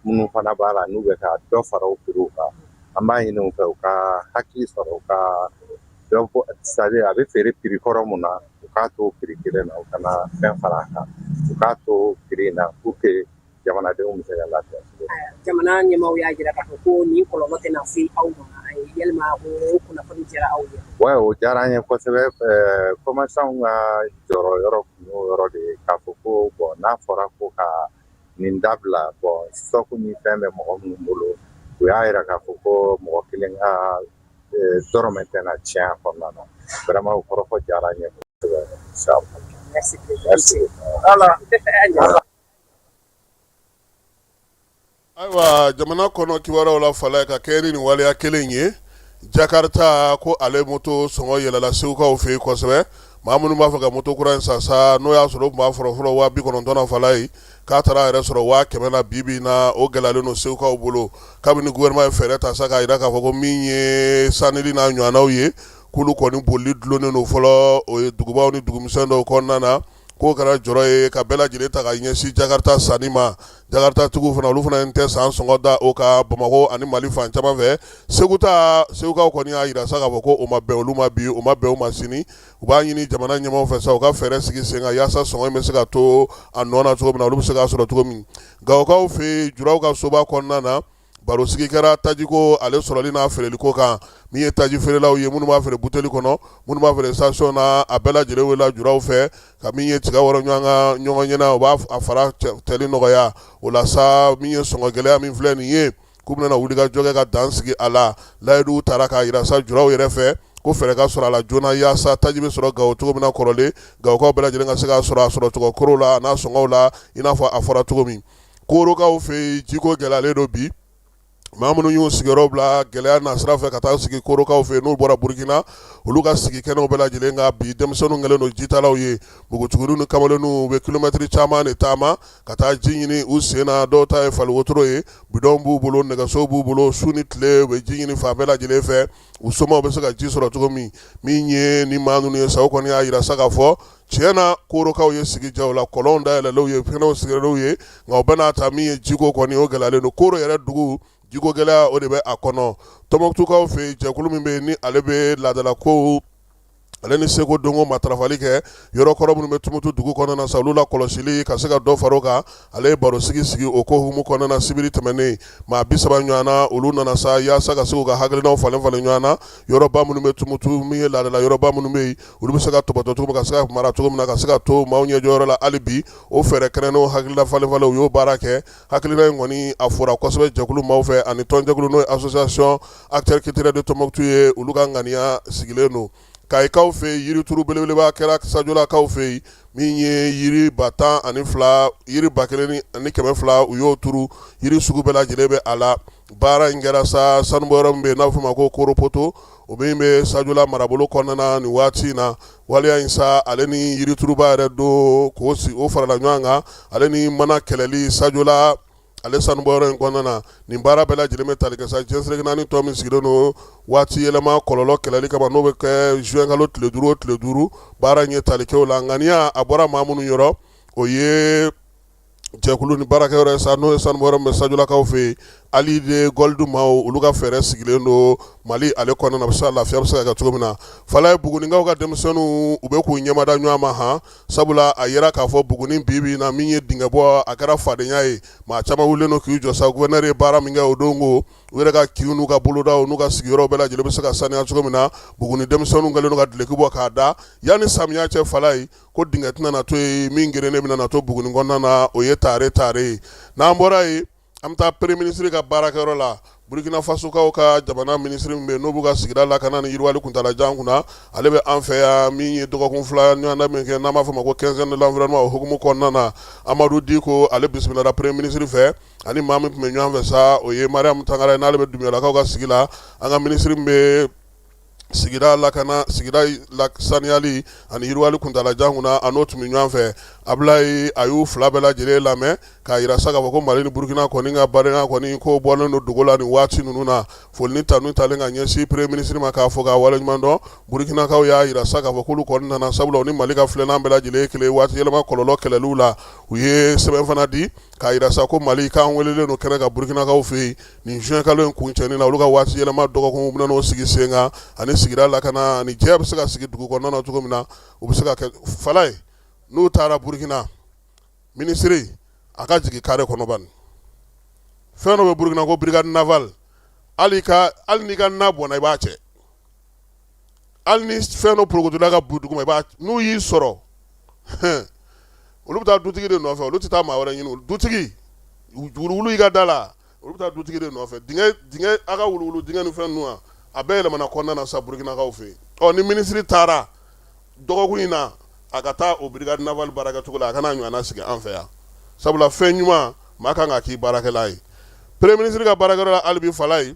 minnu fana b'a la n'u bɛ ka dɔ fara u piri kan an b'a ɲini u fɛ u ka hakili sɔrɔ u ka sabali a bɛ feere piri kɔrɔ min na u k'a to piri kelen na u kana fɛn fara a kan u k'a to piri in na pour que jamanadenw bɛ se ka lafiya jamana ɲɛmaaw y'a jira k'a fɔ ko nin kɔlɔlɔ tɛna se aw ma yalima o kunnafoni diyara aw ye wa o diyara an ye kosɛbɛ kɔmasanw ka jɔrɔ yɔrɔ kun y'o yɔrɔ de ye k'a fɔ ko bon n'a fɔra ko ka nin dabila bon stock ni fɛn bɛ mɔgɔ minnu bolo u y'a jira k'a fɔ ko mɔgɔ kelen ka dɔrɔmɛ tɛna tiɲɛ a kɔnɔna na vraiment o kɔrɔfɔ diyara an ye kosɛbɛ. Merci beaucoup. Merci. Ala. ayiwa jamana kɔnɔ kibaruyaw la fala ka kɛ ni nin waleya kelen ye jakarta ko ale moto sɔngɔ yɛlɛla segukaw fɛ yen kosɛbɛ maa minnu b'a fɛ ka moto kura in san sa n'o y'a sɔrɔ o tun b'a fɔlɔfɔlɔ waa bi kɔnɔntɔn na fala ye k'a taara a yɛrɛ sɔrɔ waa kɛmɛ na bi bi na o gɛlɛyalen don segukaw bolo kabini gouvernement ye fɛɛrɛ ta sa k'a jira k'a fɔ ko min ye sanili n'a ɲɔgɔnnaw ye k'olu kɔni bolili dulonnen don fɔlɔ o ye dugubaw ni dugumisɛn dɔw kɔnɔna na k'o kɛra jɔrɔ ye ka bɛɛ lajɛlen ta ka ɲɛsin Jakarta sanni ma, Jakarta tigiw fana olu fana tɛ san sɔngɔ da o kan Bamakɔ ani Mali fan caman fɛ, segukaw kɔni y'a jira sa k'a fɔ ko o ma bɛn olu ma bi, o ma bɛn u ma sini, u b'a ɲini jamana ɲɛmaaw fɛ sa u ka fɛɛrɛ sigi sen kan yaasa sɔngɔ in bɛ se ka to a nɔ na cogo min na, olu bɛ se k'a sɔrɔ cogo min, Gawokaw fɛ yen juraw ka soba kɔnɔna na. baro sigi kɛra tajiko ale sɔrɔli n'a feereli ko kan min ye taji feerelaw ye minnu b'a feere buteli kɔnɔ minnu b'a feere station na a bɛɛ lajɛlen welela juraw fɛ ka min ye tiga wɔrɔ ɲɔgɔn ɲɛna u b'a fara tɛli nɔgɔya o la sa min ye sɔngɔ gɛlɛya min filɛ nin ye k'u bɛna wulikajɔ kɛ ka dan sigi a la layiduw tara k'a yira sa juraw yɛrɛ fɛ ko fɛɛrɛ ka sɔrɔ a la joona yaasa taji bɛ sɔrɔ gawo cogo min na kɔrɔlen gawokaw bɛɛ lajɛlen ka se k'a sɔrɔ a sɔrɔ cogo kɔrɔ la n'a sɔngɔw la i n'a fɔ a fɔra cogo min Korokaw fɛ yen jiko gɛlɛyalen don bi maa minnu y'u sigiyɔrɔ bila gɛlɛya nasira fɛ ka taa sigi korokaw fɛ n'u bɔra burukina olu ka sigi kɛnɛw bɛɛ lajɛlen kan bi denmisɛnninw kɛlen don jitalaw ye npogotigininw ni kamalenw u bɛ kilomɛtiri caman de taama ka taa ji ɲini u sen na dɔw ta ye fali wotoro ye bidɔn b'u bolo nɛgɛso b'u bolo su ni tile u bɛ ji ɲini fan bɛɛ lajɛlen fɛ u somaw bɛ se ka ji sɔrɔ cogo min min ye ni maa ninnu ye sa kɔni y'a jira sa k'a fɔ tiɲɛ na korokaw ye sigi diya u la kɔlɔnw dayɛlɛlenw ye fɛɛrɛw sigilenw ye nka o bɛɛ n'a ta min ye jiko kɔni o gɛlɛyalen don koro yɛrɛ dugu jiko gɛlɛya o de bɛ a kɔnɔ tɔnbɔkutukaw fɛ yen jɛkulu min bɛ yen ni ale bɛ laadalakow ale ni seko dɔnko matarafali kɛ yɔrɔ kɔrɔ minnu bɛ tumutu dugu kɔnɔna sa olu lakɔlɔsili ka se ka dɔ fara o kan ale ye baro sigi sigi o ko hukumu kɔnɔna na sibiri tɛmɛnen maa bi saba ɲɔgɔnna olu nana sa yaasa ka se k'u ka hakilinaw falen falen ɲɔgɔn na yɔrɔba minnu bɛ tumutu min ye laadala yɔrɔba minnu bɛ yen olu bɛ se ka tɔpɔtɔ cogo min ka se ka mara cogo min na ka se ka to maaw ɲɛjɔyɔrɔ la hali bi o fɛɛrɛ kɛnɛnnenw hakilina falen falen u y'o baara kɛ hakilina in kɔni a fɔra kosɛbɛ jɛkulu maaw fɛ ani tɔnjɛkulu n'o ye association acteurs culturels de Tombouctou ye olu ka ŋaniya sigilen don kayikaw fɛ yen yirituru belebeleba kɛra sajolakaw fɛ yen min ye yiri ba tan ani fila yiri ba kelen ani kɛmɛ fila u y'o turu yiri sugu bɛɛ lajɛlen bɛ a la baara in kɛra sa sanubɔyɔrɔ min bɛ yen n'a bɛ fɔ a ma ko koropoto o min bɛ sajola marabolo kɔnɔna na nin waati in na waleya in sa ale ni yirituruba yɛrɛ don k'o farala ɲɔgɔn kan ale ni mana kɛlɛli sajola ale sanu bɔyɔrɔ in kɔnɔna na nin baara bɛɛ lajɛlen bɛ tali kɛ sa diɲɛ seleke naani don min sigilen don waati yɛlɛma kɔlɔlɔ kɛlɛli kama n'o bɛ kɛ juin kalo tile duuru o tile duuru baara in ye tali kɛ o la ŋaniya a bɔra maa minnu yɔrɔ o ye jɛkulu ni baarakɛ yɔrɔ ye sa n'o ye sanu bɔyɔrɔ min bɛ sajolakaw fɛ yen allied gold maaw olu ka fɛɛrɛ sigilen don mali ale kɔnɔna na a bɛ se ka lafiya bɛ se ka kɛ cogo min na falaye bugunikaw ka denmisɛnninw u bɛ k'u ɲɛmada ɲɔgɔn ma han sabula a jira k'a fɔ buguni bi bi na min ye dingɛ bɔ a kɛra fadenya ye maa caman wulilen don k'i jɔ sa gouverneur ye baara min kɛ o don ko u yɛrɛ ka kinw n'u ka bolodaw n'u ka sigiyɔrɔ bɛɛ lajɛlen bɛ se ka saniya cogo min na buguni denmisɛnninw kɛlen don ka duloki bɔ k'a da yanni samiya cɛ falaye ko dingɛ tɛna na to ye min gerennen bɛna na to buguni kɔnɔna na o ye tare tare ye n'an bɔra ye an bɛ taa premier ministre ka baarakɛyɔrɔ la burukinafasokaw ka jamana minisiri min bɛ n'o b'u ka sigida lakana ni yiriwali kuntaala jan kunna ale bɛ an fɛ yan min ye dɔgɔkun fila ɲɔgɔnna min kɛ n'an b'a fɔ ma ko quinzaine de l'environnement o hukumu kɔnɔna na amadu diko ale bisimilala premier ministre fɛ ani maa min tun bɛ ɲɔgɔn fɛ sa o ye mariam tangara n'ale bɛ dunbuyalakaw ka sigi la an ka minisiri min bɛ sigida lakana saniyali ani yiriwali kuntaala jan kunna a n'o tun bɛ ɲɔgɔn fɛ abulayi a y'u fila bɛɛ lajɛlen lamɛn k'a jira sa k'a fɔ ko mali ni burukina kɔni ka baara kɔni ko bɔlen don dogo la nin waati ninnu na foli ni tanu talen ka ɲɛsin premier ministre ma k'a fo k'a waleɲuman dɔn burukinakaw y'a jira sa k'a fɔ k'olu kɔni nana sabula u ni mali ka filanan bɛɛ lajɛlen ye kelen waati yɛlɛma kɔlɔlɔ kɛlɛliw la u ye sɛbɛn fana di k'a jira sa ko mali k'an welelen don kɛnɛ kan burukinakaw fɛ yen nin juin kalo in kuncɛni na olu ka waati yɛlɛma dɔgɔkun bɛna n'o sigi sen kan ani sigida lakana ani jɛya bɛ se ka sigi dugu kɔnɔna cogo min na u bɛ se ka kɛ falaye n'u taara burukina minisiri a ka jigin kare kɔnɔ bani fɛn dɔ bɛ burukina ko brigade laabal hali n'i ka na bɔnna i b'a cɛ hali ni fɛn dɔ porokotola ka bin dugu ma n'u y'i sɔrɔ olu bɛ taa dutigi de nɔfɛ olu tɛ taa maa wɛrɛ ɲini dutigi wuluwulu i ka da la olu bɛ taa dutigi de nɔfɛ dingɛ dingɛ a ka wuluwulu dingɛ ni fɛn ninnu a bɛɛ yɛlɛmana kɔnɔna na sa burukinakaw fɛ yen ɔ ni minisiri taara dɔgɔkun in na a ka taa o brigade laabal baarakɛcogo la a ka na ɲɔgɔnna sigi an fɛ yan sabula fɛn ɲuman maa kan ka k'i baarakɛlan ye premier ministre ka baarakɛyɔrɔ la hali bi falaye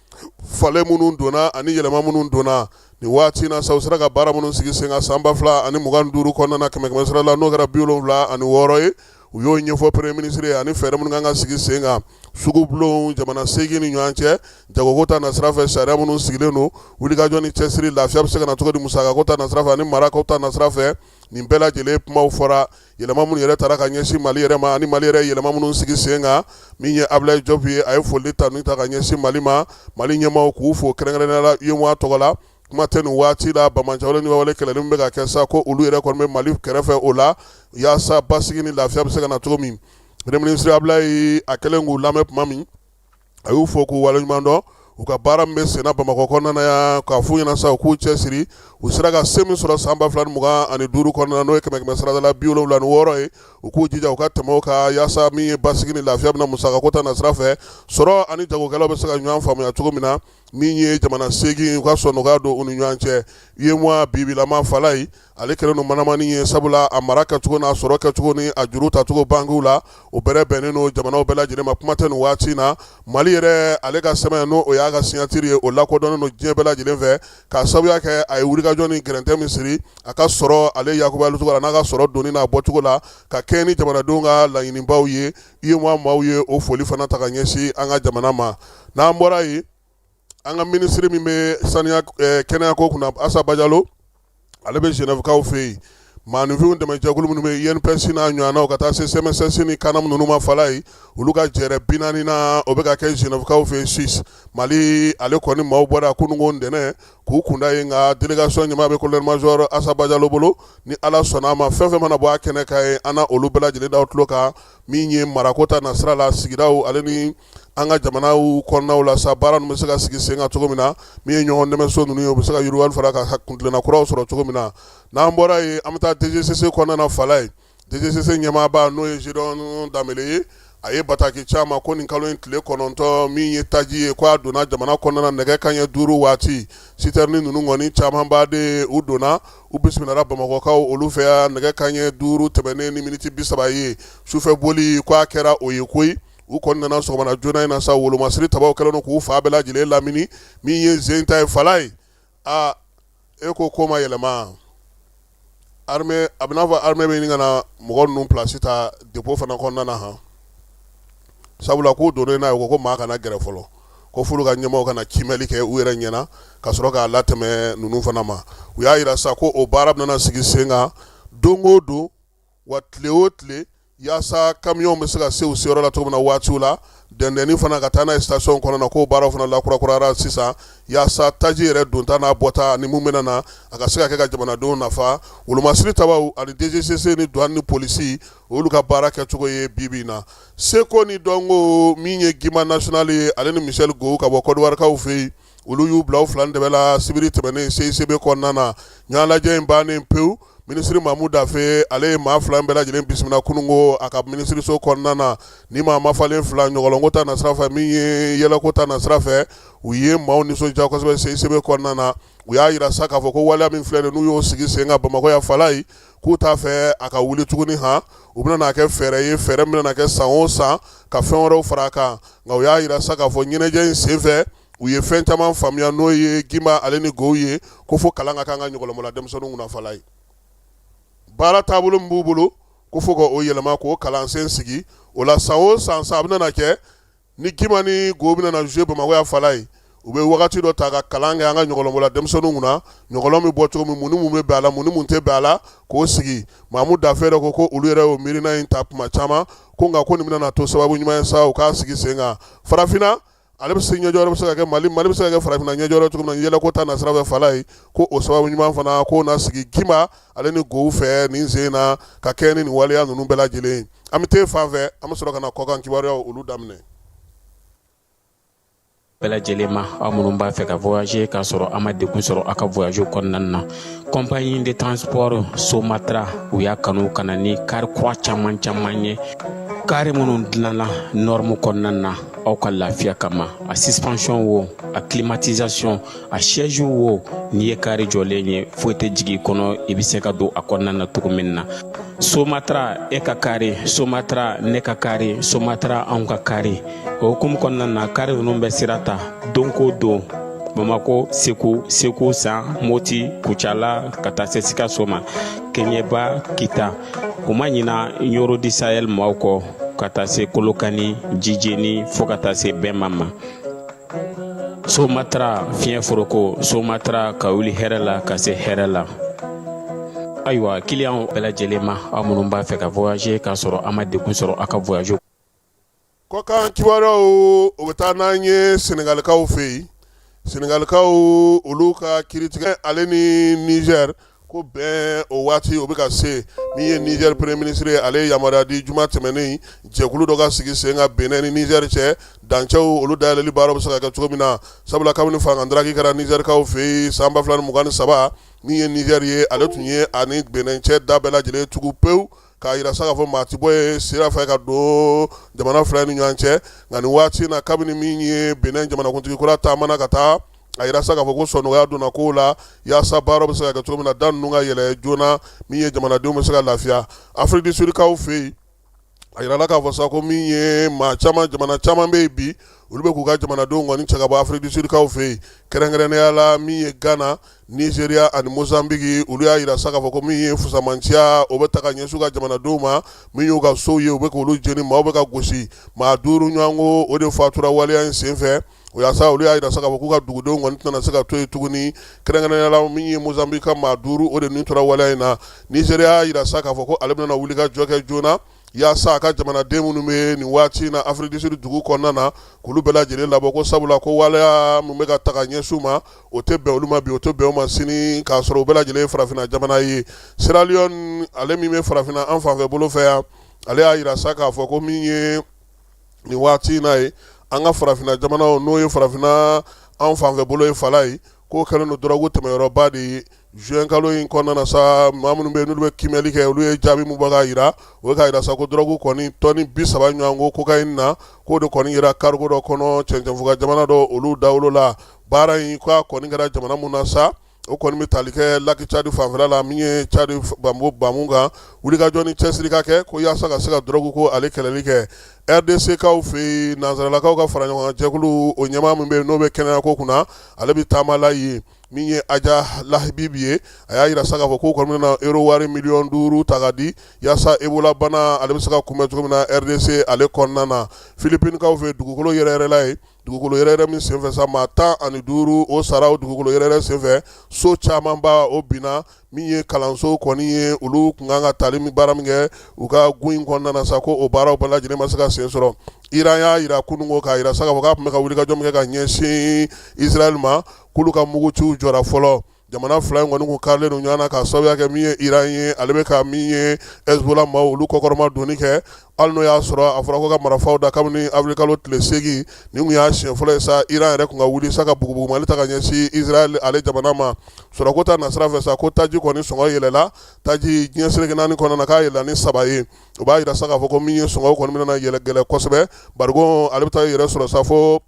falen minnu donna ani yɛlɛma minnu donna nin waati na sa u sera ka baara minnu sigi sen kan san ba fila ani mugan duuru kɔnɔna na kɛmɛ kɛmɛ sira la n'o kɛra bi wolonwula ani wɔɔrɔ ye u y'o ɲɛfɔ premier ministre ye ani fɛɛrɛ minnu kan ka sigi sen kan sugu bulon jamana seegin ni ɲɔgɔn cɛ jagoko ta nasira fɛ sariya minnu sigilen don wulikajɔ ni cɛsiri lafiya bɛ se ka na cogo di musakako ta nasira fɛ ani marakow ta nasira fɛ nin bɛɛ lajɛlen kumaw fɔra yɛlɛma minnu yɛrɛ taara ka ɲɛsin mali yɛrɛ ma ani mali yɛrɛ yɛlɛma minnu sigi sen kan min ye abilayi jɔp ye a ye foli tanu ta ka ɲɛsin mali ma mali ɲɛmaaw k'u fo kɛrɛnkɛrɛnnenya la UEMOA tɔgɔ la kuma tɛ nin waati la banbaanciwale ni ɲɔgɔnwale kɛlɛli min bɛ ka kɛ sa ko olu yɛrɛ kɔni bɛ mali kɛrɛfɛ o la yaasa basigi ni lafiya bɛ se ka na cogo min premier ministre abilayi a kɛlen k'u lamɛn tuma min a y'u fo k'u waleɲuman dɔn u ka baara min bɛ senna bamakɔ kɔnɔna na yan k'a f'u ɲɛna sa u k'u cɛsiri u sera ka se min sɔrɔ san ba fila ni mugan ani duuru kɔnɔna n'o ye kɛmɛ kɛmɛ sarada la bi wolonwula ni wɔɔrɔ ye u k'u jija u ka tɛmɛ o kan yaasa min ye basigi ni lafiya bɛna musakako ta nasira fɛ sɔrɔ ani jagokɛlaw bɛ se ka ɲɔgɔn faamuya cogo min na min ye jamana seegin u ka sɔn nɔgɔya don u ni ɲɔgɔn cɛ UEMOA bibilama fala ye ale kɛlen don manamani ye sabula a mara kɛcogo n'a sɔrɔ kɛcogo ni a juru tacogo bankiw la o bɛrɛ bɛnnen don jamanaw bɛɛ lajɛlen ma kuma tɛ nin waati na mali yɛrɛ ale ka sɛbɛn n'o y'a ka signature ye o lakodɔnnen don diɲɛ bɛɛ lajɛlen fɛ k'a sababuya kɛ a ye wulikajɔ ni gɛrɛntɛ min siri a ka sɔrɔ ale yakubayali cogo la n'a ka sɔrɔ donni n'a bɔcogo la ka kɛɲɛ ni jamanadenw ka laɲinibaw ye UEMOA maaw ye o foli fana ta ka ɲɛsin an ka jamana ma n'an bɔra yen an ka minisiri min bɛ saniya kɛnɛyako kunna asa bajalo ale bɛ genèvekaw fɛ yen maaninfinw dɛmɛjɛkulu minnu bɛ INPS n'a ɲɔgɔnnaw ka taa se CMSS ni CANAM ninnu ma fala ye olu ka jɛrɛ bi naaninan o bɛ ka kɛ genèvekaw fɛ yen suisse mali ale kɔni maaw bɔra kununko ntɛnɛn k'u kunda yen nka délégation ɲɛmaa bɛ colonel major asa bajalo bolo ni ala sɔnna a ma fɛn fɛn mana bɔ a kɛnɛ kan yen an na olu bɛɛ lajɛlen da aw tulo kan min ye marako ta nasira la sigidaw ale ni an ka jamanaw kɔnɔnaw la sa baara ninnu bɛ se ka sigi sen kan cogo min na min ye ɲɔgɔn dɛmɛso ninnu ye u bɛ se ka yiriwali fara ka kuntilenna kuraw sɔrɔ cogo min na n'an bɔra yen an bɛ taa DGCC kɔnɔna na fala ye DGCC ɲɛmaaba n'o ye Zédion Dembélé ye a ye bataki c'an ma ko nin kalo in tile kɔnɔntɔn min ye taji ye ko a donna jamana kɔnɔna na nɛgɛ kanɲɛ duuru waati sitɛrini ninnu kɔni camanba de u donna u bisimilala bamakɔkaw olu fɛ yan nɛgɛ kanɲɛ duuru tɛmɛnen ni miniti bi saba ye sufɛ boli ko a kɛra o ye koyi u kɔni nana sɔgɔma joona in na sa wolomasiri tabaw kɛlen k'u fa bɛɛ lajɛlen lamini min ye sen ta ye fala ye aa e ko ko ma yɛlɛma armée a bɛ n'a fɔ armée bɛ ɲini ka na mɔgɔ ninnu plasi ta dépôt fana kɔnɔna na han sabula k'u donnen n'a ye ko ko maa kana gɛrɛ fɔlɔ ko f'olu ka ɲɛmaaw ka na kiimɛli kɛ u yɛrɛ ɲɛna ka sɔrɔ k'a latɛmɛ ninnu fana ma u y'a yira sa ko o baara bɛna sigi sen kan don o don wa tile o tile yaasa kamiyɔn bɛ se ka se u seyɔrɔ la cogo min na waatiw la dɛndɛnni fana ka taa n'a ye station kɔnɔ na k'o baaraw fana lakurakurara sisan yaasa taji yɛrɛ donta n'a bɔta ani minnu bɛna na a ka se ka kɛ ka jamanadenw nafa wolomasiri tabaw ani DGCC ni douane ni polisi olu ka baara kɛcogo ye bibi in na seko ni dɔnko min ye guimba national ye ale ni michel gohou ka bɔ kɔdiwarikaw fɛ yen olu y'u bila u fila dɛbɛ la sibiri tɛmɛnen CICB kɔnɔna na ɲɛnajɛ in bannen pewu minisiri mamu dafɛ ale ye maa fila bɛɛ lajɛlen bisimila kunungo a ka minisiriso kɔnɔna na ni maa ma falen fila ɲɔgɔlɔnko ta nasira fɛ min ye yɛlɛko ta nasira fɛ u ye maaw nisɔndiya kosɛbɛ CICB kɔnɔna na u y'a jira sa k'a fɔ ko waleya min filɛ n'u y'o sigi sen kan bamakɔ yan falaye k'u t'a fɛ a ka wuli tuguni han o bɛna na kɛ fɛɛrɛ ye fɛɛrɛ min bɛna na kɛ san o san ka fɛn wɛrɛw fara a kan nka u y'a jira sa k'a fɔ ɲɛnajɛ in senfɛ u ye fɛn caman faamuya n'o ye guimba ale ni gohou ye ko fo kalan ka k'an ka ɲɔgɔlɔnbɔla denmisɛnninw kunna falaye baara taabolo min b'u bolo ko fo ka o yɛlɛma k'o kalansen sigi o la san o san sa a bɛna na kɛ ni Guimba ni Gohou bɛna na jouer Bamakɔ yan Falaye u bɛ wagati dɔ ta ka kalan kɛ an ka ɲɔgɔlɔnbɔla denmisɛnninw kunna ɲɔgɔlɔn bɛ bɔ cogo min mun ni mun bɛ bɛn a la mun ni mun tɛ bɛn a la k'o sigi Mamu Dafɛ yɛrɛ ko ko olu yɛrɛ y'o miirina in ta tuma caman ko nka ko nin bɛna na to sababu ɲuman ye sa u k'a sigi sen kan farafinna ale bɛ se ɲɛjɔ bɛ se ka kɛ Mali Mali bɛ se ka kɛ farafinna ɲɛjɔ cogo min na yɛlɛko ta nasira fɛ Falaye ko o sababu ɲuman fana k'o na sigi Guimba ale ni gohou fɛ nin sen na ka kɛ ni nin waleya ninnu bɛɛ lajɛlen an bɛ t'e fan fɛ an bɛ sɔrɔ ka na kɔkan kibaruyaw olu daminɛ bɛɛ lajɛlen ma aw minnu b'a fɛ ka voyager k'a sɔrɔ a ma degun sɔrɔ a ka voyage kɔnɔna na compagnie de transport somatra u y'a kanu ka na ni kari kura caman caman ye kari minnu dilanna norme kɔnɔna na aw ka lafiya kama a suspension wo a climatisation a siège wo n'i ye kari jɔlen ye foyi tɛ jigin kɔnɔ i bɛ se ka don a kɔnɔna na cogo min na somatra e ka kari somatra ne ka kari somatra anw ka kari o hukumu kɔnɔna na kari ninnu bɛ sira ta don ko don bamakɔ segu segu san moti kucala ka taa se sikaso ma kɛɲɛba kita u ma ɲina ɲɔrɔ di sayɛli maaw kɔ ka taa se kolokani jijeni fɔɔ ka taa se bema ma somatara fiɲɛ foroko somatara ka wuli hɛrɛ la ka se hɛrɛ la ayiwa kiliyanw bɛɛ lajɛlen ma aw minnu b'a fɛ ka voyager k'a sɔrɔ a ma degun sɔrɔ a ka voyage kɔkan kibaruyaw o bɛ taa n'an ye senegalikaw fɛ yen senegalikaw olu ka kiritigɛ ale ni nizɛri ko bɛn o waati o bɛ ka se min ye nizɛri premier ministre ye ale ye yamaruya di juma tɛmɛnen jɛkulu dɔ ka sigi sen kan bɛnɛn ni nizɛri cɛ dancɛw olu dayɛlɛli baara bɛ se ka kɛ cogo min na sabula kabini fangadafiri kɛra nizɛrikaw fɛ yen san ba fila ni mugan ni saba min ye nizɛri ye ale tun y'a ni bɛnɛn cɛ da bɛɛ lajɛlen tugu pewu k'a jira sa k'a fɔ maa ti bɔ yen sira fɛ ka don jamana fila ni ɲɔgɔn cɛ nka nin waati na kabini min ye bɛnɛn jamanakuntigi kura taamana ka taa a jira sa k'a fɔ ko sɔnɔgɔya donna kow la yaasa baara bɛ se ka kɛ cogo min na da ninnu ka yɛlɛ joona min ye jamanadenw bɛ se ka lafiya Afrique du Sud kaw fɛ yen a jirala k'a fɔ sa ko min ye maa caman jamana caman bɛ yen bi olu bɛ k'u ka jamanadenw kɔni cɛ ka bɔ Afrique du Sud kaw fɛ yen kɛrɛnkɛrɛnnenya la min ye Ghana Nigeria ani Mozambique olu y'a jira sa k'a fɔ ko min ye fusamanciya o bɛ ta ka ɲɛsin u ka jamanadenw ma min y'u ka sow ye u bɛ k'olu jeni maaw bɛ ka gosi maa duuru ɲɔgɔn ko o de fatura waleya in senfɛ o yaasa olu y'a jira sa k'a fɔ k'u ka dugudenw kɔni tɛna se ka to yen tuguni kɛrɛnkɛrɛnnenya la min ye Mozambique ka maa duuru o de nin tora waleya in na Nigeria y'a jira sa k'a fɔ ko ale bɛna wulikajɔ kɛ joona yaasa a ka jamanaden minnu bɛ nin waati na Afrique du Sud dugu kɔnɔna na k'olu bɛɛ lajɛlen labɔ ko sabula ko waleya min bɛ ka ta ka ɲɛsin u ma o tɛ bɛn olu ma bi o tɛ bɛn u ma sini k'a sɔrɔ u bɛɛ lajɛlen ye farafinna jamana ye Sierra Leone ale min bɛ farafinna an fanfɛ bolo fɛ yan ale y'a jira sa k'a fɔ ko min ye nin waati na ye an ka farafinna jamanaw n'o ye farafinna an fanfɛ bolo ye Falaye k'o kɛlen don dɔrɔgu tɛmɛyɔrɔba de ye juin kalo in kɔnɔna na sa maa minnu bɛ yen n'olu bɛ kiimɛli kɛ olu ye jaabi min bɔ k'a jira o ye k'a jira sa ko dɔrɔgu kɔni tɔni bi saba ɲɔgɔn ko cocaïne na k'o de kɔni yera cargo dɔ kɔnɔ cɛncɛnfuga jamana dɔ olu dawolo la baara in k'a kɔni kɛra jamana min na sa o kɔni bɛ tali kɛ laki cadi fanfɛ la min ye cadi bamu kan wulikajɔ ni cɛsiri ka kɛ ko yaasa ka se ka dɔrɔgu ko ale kɛlɛli kɛ RDC kaw fɛ yen nansaralakaw ka faraɲɔgɔnkan jɛkulu o ɲɛmaa min bɛ yen n'o bɛ kɛnɛya ko kunna ale bɛ taama la yen min ye Hadja Lahbib ye a y'a jira sa k'a fɔ k'u kɔni bɛna euro wari miliyɔn duuru ta ka di yaasa Ebola bana ale bɛ se ka kunbɛn cogo min na RDC ale kɔnɔna na Philippines kaw fɛ dugukolo yɛrɛyɛrɛla yen dugukolo yɛrɛyɛrɛ min senfɛ sa maa tan ani duuru o sara o dugukolo yɛrɛyɛrɛ senfɛ so camanba o binna min ye kalanso kɔni ye olu kun kan ka taali min baara min kɛ u ka gun in kɔnɔna na sa ko o baaraw bɛɛ lajɛlen ma se ka sen sɔrɔ Iran y'a jira kunungo k'a jira sa k'a fɔ k'a tun bɛ ka wulikajɔ min kɛ ka ɲɛsin Israël ma k'olu ka muguciw jɔra fɔlɔ Jamana fila in kɔni kun karilen don ɲɔgɔn na k'a sababuya kɛ min ye Iran ye ale bɛ ka min ye Hezbollah maaw olu kɔkɔrɔmadonni kɛ hali n'o y'a sɔrɔ a fɔra ko ka marifaw da kabini avril kalo tile segin nin tun y'a siɲɛ fɔlɔ ye sa Iran yɛrɛ tun ka wuli sa ka bugubugumali ta ka ɲɛsin Israël ale jamana ma sɔrɔko ta nasira fɛ sa ko taji kɔni sɔngɔ yɛlɛla taji diɲɛ seleke naani kɔnɔna na k'a yɛlɛla ni saba ye o b'a jira sa k'a fɔ ko min ye sɔngɔw kɔni bɛna yɛlɛ gɛlɛ kosɛbɛ barigo ale bɛ taa yɛrɛ sɔrɔ sa fo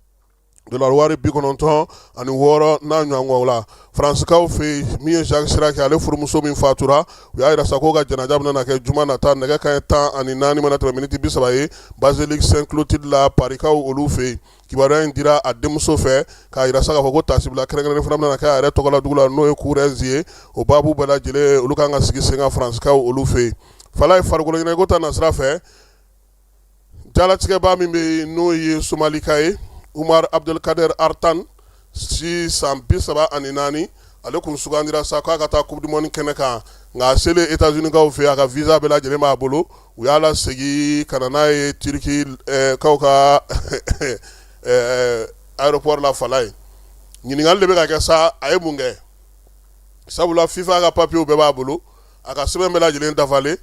wari bi kɔnɔntɔn ani wɔɔrɔ n'a ɲɔgɔn la faranskaw fɛ min ye Jacques Chirac ale furumuso min fatura u y'a jira sa k'o ka janaja bɛna kɛ juma nata nɛgɛ kanɲɛ tan ani naani mana tɛmɛ miniti bi saba ye Basilique Sainte-Clotilde la Parikaw olu fɛ yen kibaruya in dira a denmuso fɛ k'a jira sa k'a fɔ ko tasibila kɛrɛnkɛrɛnnen fana bɛna kɛ a yɛrɛ tɔgɔ la dugu la n'o ye Corrèze ye o baabu bɛɛ lajɛlen olu ka kan ka sigi sen ka faranskaw olu fɛ yen Falaye farikolo ɲɛnajɛ ko ta nasira fɛ Jalatigɛba min bɛ yen n'o ye somalika ye Umar Abdelkader Artan si san bi saba ani naani ale kun sugandira sa k'a ka taa coupe du monde kɛnɛ kan nka a selen États-Unis kaw fɛ a ka visa bɛɛ lajɛlen b'a bolo u y'a lasegin ka na n'a ye Turki kaw ka aéroport la fala ye ɲininkali de bɛ ka kɛ sa a ye mun kɛ sabula fifa ka papiyew bɛɛ b'a bolo A ka sɛbɛn bɛɛ lajɛlen dafalen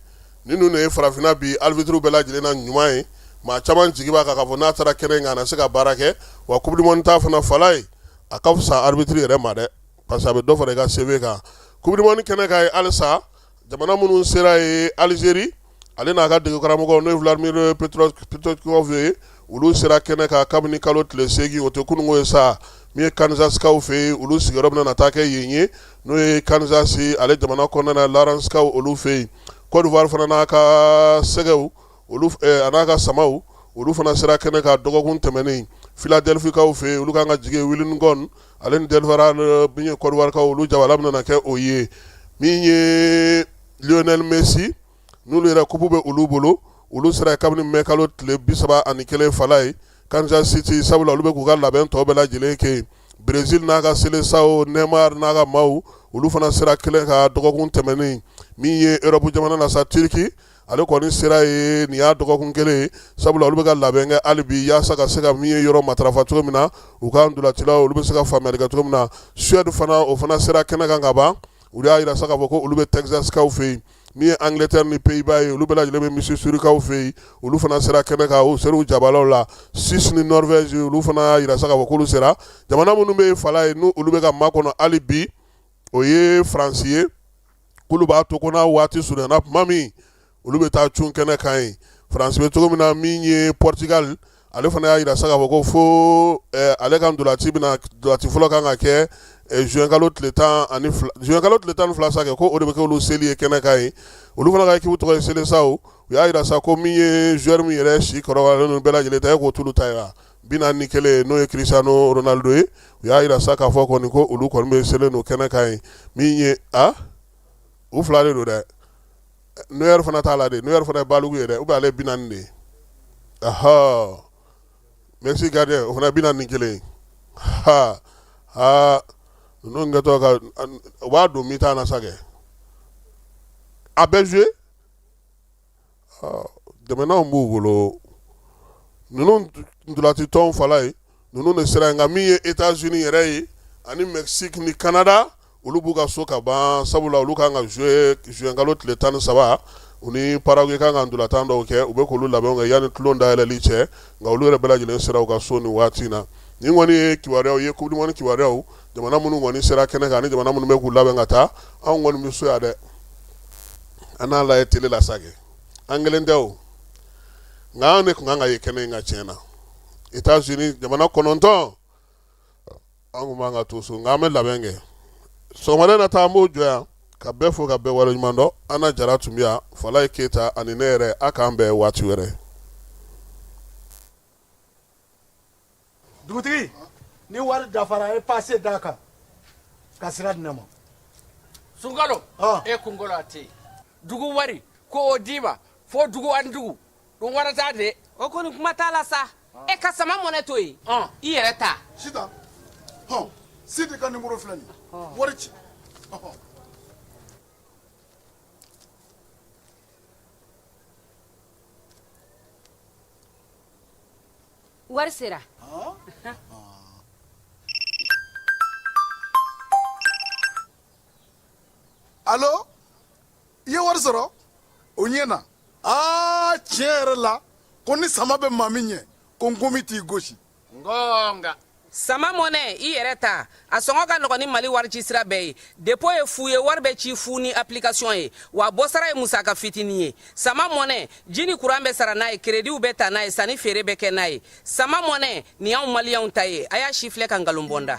nin dun de ye farafinna bi arbitres bɛɛ lajɛlen na ɲuman ye maa caman jigi b'a kan k'a fɔ n'a taara kɛnɛ in kan a na se ka baara kɛ wa coupe du monde ta fana fala ye a ka fisa arbitre yɛrɛ ma dɛ parce que a bɛ dɔ fara i ka CV kan coupe du monde kɛnɛ kan ye halisa jamana minnu sera ye Algérie ale n'a ka degekaramɔgɔ n'o ye Vladimir Petkovic ye olu sera kɛnɛ kan kabini kalo tile segin o tɛ kununwo ye sa min ye Kansas kaw fɛ yen olu sigiyɔrɔ bɛna taa kɛ yen ye n'o ye Kansas ale jamana kɔnɔna na Lawrence kaw olu fɛ yen Côte d'Ivoire fana n'a ka sɛgɛw a n'a ka samaw olu fana sera kɛnɛ kan dɔgɔkun tɛmɛnen Philadelphie kaw fɛ olu ka kan ka jigi Wilmington ale ni Delaware min ye Côte d'Ivoire kaw olu jabala bɛna kɛ o ye min ye Lionel Messi n'olu yɛrɛ kupu bɛ olu bolo olu sera kabini mɛ kalo tile bi saba ani kelen fala ye Kansas City sabula olu bɛ k'u ka labɛn tɔw bɛɛ lajɛlen kɛ Brésil n'a ka Seleção Neymar n'a ka maaw olu fana sera kɛnɛ kan dɔgɔkun tɛmɛnen min ye Europe jamana na sa Turki ale kɔni sera ye nin y'a dɔgɔkun kelen sabula olu bɛ ka labɛn kɛ hali bi yaasa ka se ka min ye yɔrɔ matarafa cogo min na u ka ndolatilaw olu bɛ se ka faamuya kɛ cogo min na Suède fana o fana sera kɛnɛ kan ka ban u y'a yira sa k'a fɔ ko olu bɛ Texas kaw fɛ yen min ye Angleterre ni Pays-Bas ye olu bɛɛ lajɛlen bɛ Missouri kaw fɛ yen olu fana sera kɛnɛ kan u sera u jabalaw la Suisse ni Norvège olu fana y'a yira sa k'a fɔ k'olu sera jamana minnu bɛ fala ye n'olu bɛ ka makɔnɔ hali bi o ye faransi ye k'olu b'a to ko n'a waati surunana tuma min olu bɛ taa cun kɛnɛ kan ye France bɛ cogo min na min ye Portugal ale fana y'a yira sa k'a fɔ ko fo eh, ale ka ndolanci bɛna ndolanci fɔlɔ kan ka kɛ eh, juin kalo tile tan ani fila juin kalo tile tan ni fila sa kɛ ko o de bɛ kɛ olu seli ye kɛnɛ kan ye olu fana ka ekipu tɔgɔ ye Seleção u y'a yira sa ko min ye joueur min yɛrɛ si kɔrɔbayalen ninnu bɛɛ lajɛlen ta ye k'o t'olu ta ye wa bi naani ni kelen n'o ye Cristiano Ronaldo ye u y'a yira sa k'a fɔ kɔni ko olu kɔni bɛ selen don kɛnɛ kan ye min ye u fila de don dɛ Neuer fana t'a la dɛ Neuer fana ye balugu ye dɛ ou bien ale bi naani de ye ahɔ Mexique gardien o fana bi naani ni kelen ha aa ninnu kɛtɔ ka u b'a don mi-temps na sa kɛ a bɛ joué dɛmɛnanw b'u bolo ninnu ntolatitɔn fala ye ninnu de sera nka min ye États-Unis yɛrɛ ye ani Mexique ni Canada olu b'u ka so ka ban sabula olu kan ka joué juin kalo tile tan ni saba u ni Paraguay kan ka ntolatan dɔw kɛ u bɛ k'olu labɛn kɛ yanni tulon dayɛlɛli cɛ nka olu yɛrɛ bɛɛ lajɛlen sera u ka so nin waati na nin kɔni ye kibaruyaw ye coupe du monde kibaruyaw jamana minnu kɔni sera kɛnɛ kan ni jamana minnu bɛ k'u labɛn ka taa anw kɔni bɛ so yan dɛ an n'a lajɛ tele la sa an kelen tɛ nka an de tun kan ka ye kɛnɛ in kan tiɲɛ na États-Unis jamana kɔnɔntɔn an tun b'an ka to so nka an bɛ labɛn kɛ so wɛrɛ nata an b'o jɔ yan ka bɛɛ fo ka bɛɛ waleɲumandɔn ana jara tun bɛ yan falaye keyita ani ne yɛrɛ a k'an bɛn waati wɛrɛ dugutigi ni wari dafara a ye pase d'a kan ka sira di ne ma sunkalo e kun a tɛ dugu wari ko o d'i ma fo dugu ani dugu don wara t'a de o kɔni kuma t'a la sa e ka sama mɔnɛ to yen ɔn i yɛrɛ ta sita hɔn sidi ka nimoro filɛ nin wari ci ɔhɔn. wari sera alo i ye wari sɔrɔ o ɲɛna aa tiɲɛ yɛrɛ la ko ni sama bɛ maa min ɲɛ ko nkɔmi t'i gosi ngɔnga sama mɔnɛ i yɛrɛ ta a sɔngɔ ka nɔgɔn ni mali warici sira bɛɛ ye depo ye fu ye wari bɛ ci fu ni application ye wa bɔsara ye musaka fitini ye sama mɔnɛ ji ni kuran bɛ sara n'a ye kerediw bɛ ta n'a ye sanni feere bɛ kɛ n'a ye sama mɔnɛ nin y'anw maliyɛnw ta ye a y'a sifilɛ ka nkalon bɔ n da